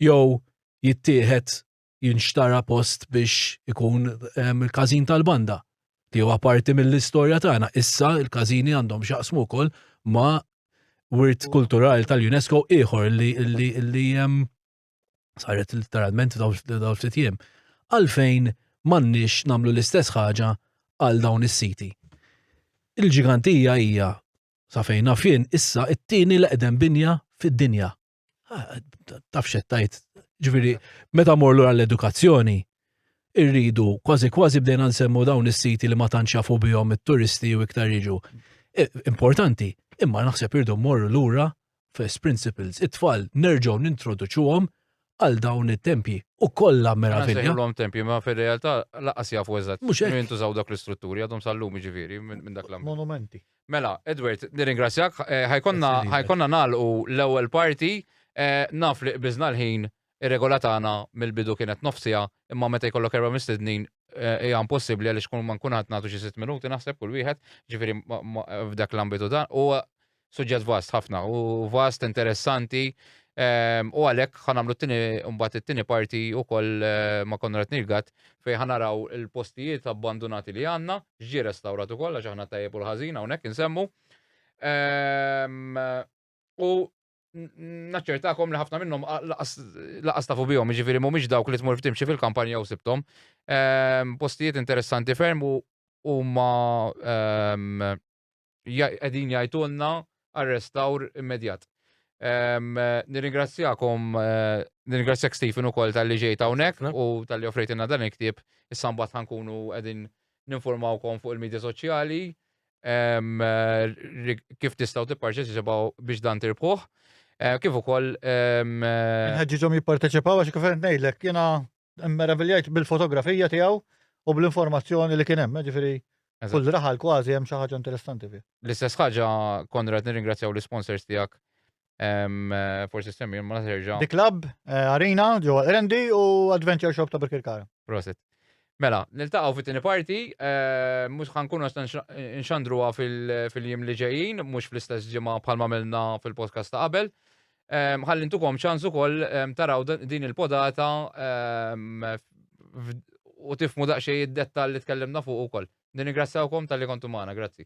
Jow jittieħed jinxtara post biex ikun ehm, il-kazin tal-banda li huwa parti mill-istorja tagħna. Issa il-każini għandhom xaqsmu wkoll ma' wirt kulturali tal-UNESCO ieħor li ehm, saret literalment daw ftit jiem, għalfejn m'għandniex nagħmlu l-istess ħaġa għal dawn is-siti. Il-ġigantija hija sa fejn nafjen issa it-tieni l-eqdem binja fid-dinja. Ah, taf xettajt, ġviri, meta morlu għall-edukazzjoni, irridu kważi kważi bdejna nsemmu dawn is-siti li ma tanċafu bihom it-turisti u iktar jiġu. E, importanti, imma naħseb irdu morru lura first principles, it-tfal nerġgħu nintroduċuhom għal dawn it-tempji. U kollha meravilja. Għandhom tempji, ma fil-realtà laqas jafu eżatt. Mhux hekk. Jintużaw dak l-istrutturi għadhom sallum jiġifieri minn dak l Monumenti. Mela, Edward, nirringrazzjak, eh, ħajkonna nagħlqu l-ewwel parti, eh, naf li qbiżna l-ħin Ir-regola tagħna mill-bidu kienet nofs siegħa, imma meta jkollok erba' mistednin hija impossibbli għaliex kull ma nkun ħadd nagħtu xi sitt minuti naħseb kull wieħed, ġifieri f'dak l-ambitu dan. Huwa suġġett vast ħafna u vast interessanti Ehm, u għalek ħanamlu t-tini, mbatt t-tini parti u koll eh, ma Konrad Nilgat fej ħanaraw il-postijiet abbandonati li għanna, ġi restaurat u koll, għax ħana tajjeb u l-ħazina u nek nsemmu. Ehm, u naċċertakom li ħafna minnhom laqas tafu bihom, jiġifieri mhumiex dawk li tmur f'timxi fil-kampanja u sibtom. Ehm, postijiet interessanti ferm u huma ehm, qegħdin jgħidulna għar-restawr immedjat. Ehm, nirringrazzjakom, eh, nirringrazzjak Stephen ukoll tal-li ġejt hawnhekk u tal-li offrejtina dan il-ktieb, issa mbagħad ħankunu qegħdin ninformawkom fuq il-medja soċjali. kif tistgħu tipparteċipaw biex dan tirbħuh. Eh, kif ukoll. Nħeġġiġhom jipparteċipaw għax kif ngħidlek jiena meraviljajt bil-fotografija tiegħu u bl-informazzjoni li kien hemm, eh, ġifieri kull raħal kważi hemm xi ħaġa interessanti fih. L-istess ħaġa Konrad nirringrazzjaw l-sponsors tiegħek Forsi semmi, ma naserġa. The Club, eh, Arena, ġewwa Rendi u Adventure Shop ta' Birkirkara. Prosit. Mela, niltaqgħu fit-tieni parti, eh, mhux ħankunu nxandruha fil-jiem li ġejjin, mhux fl-istess ġimgħa bħalma milna fil-podcast ta' qabel. Ħalli ntukom ċans ukoll taraw din il-podata u tifmu daqsxejn id-dettall li tkellimna fuq ukoll. Nirringrazzjawkom tal-li kontu magħna, grazzi.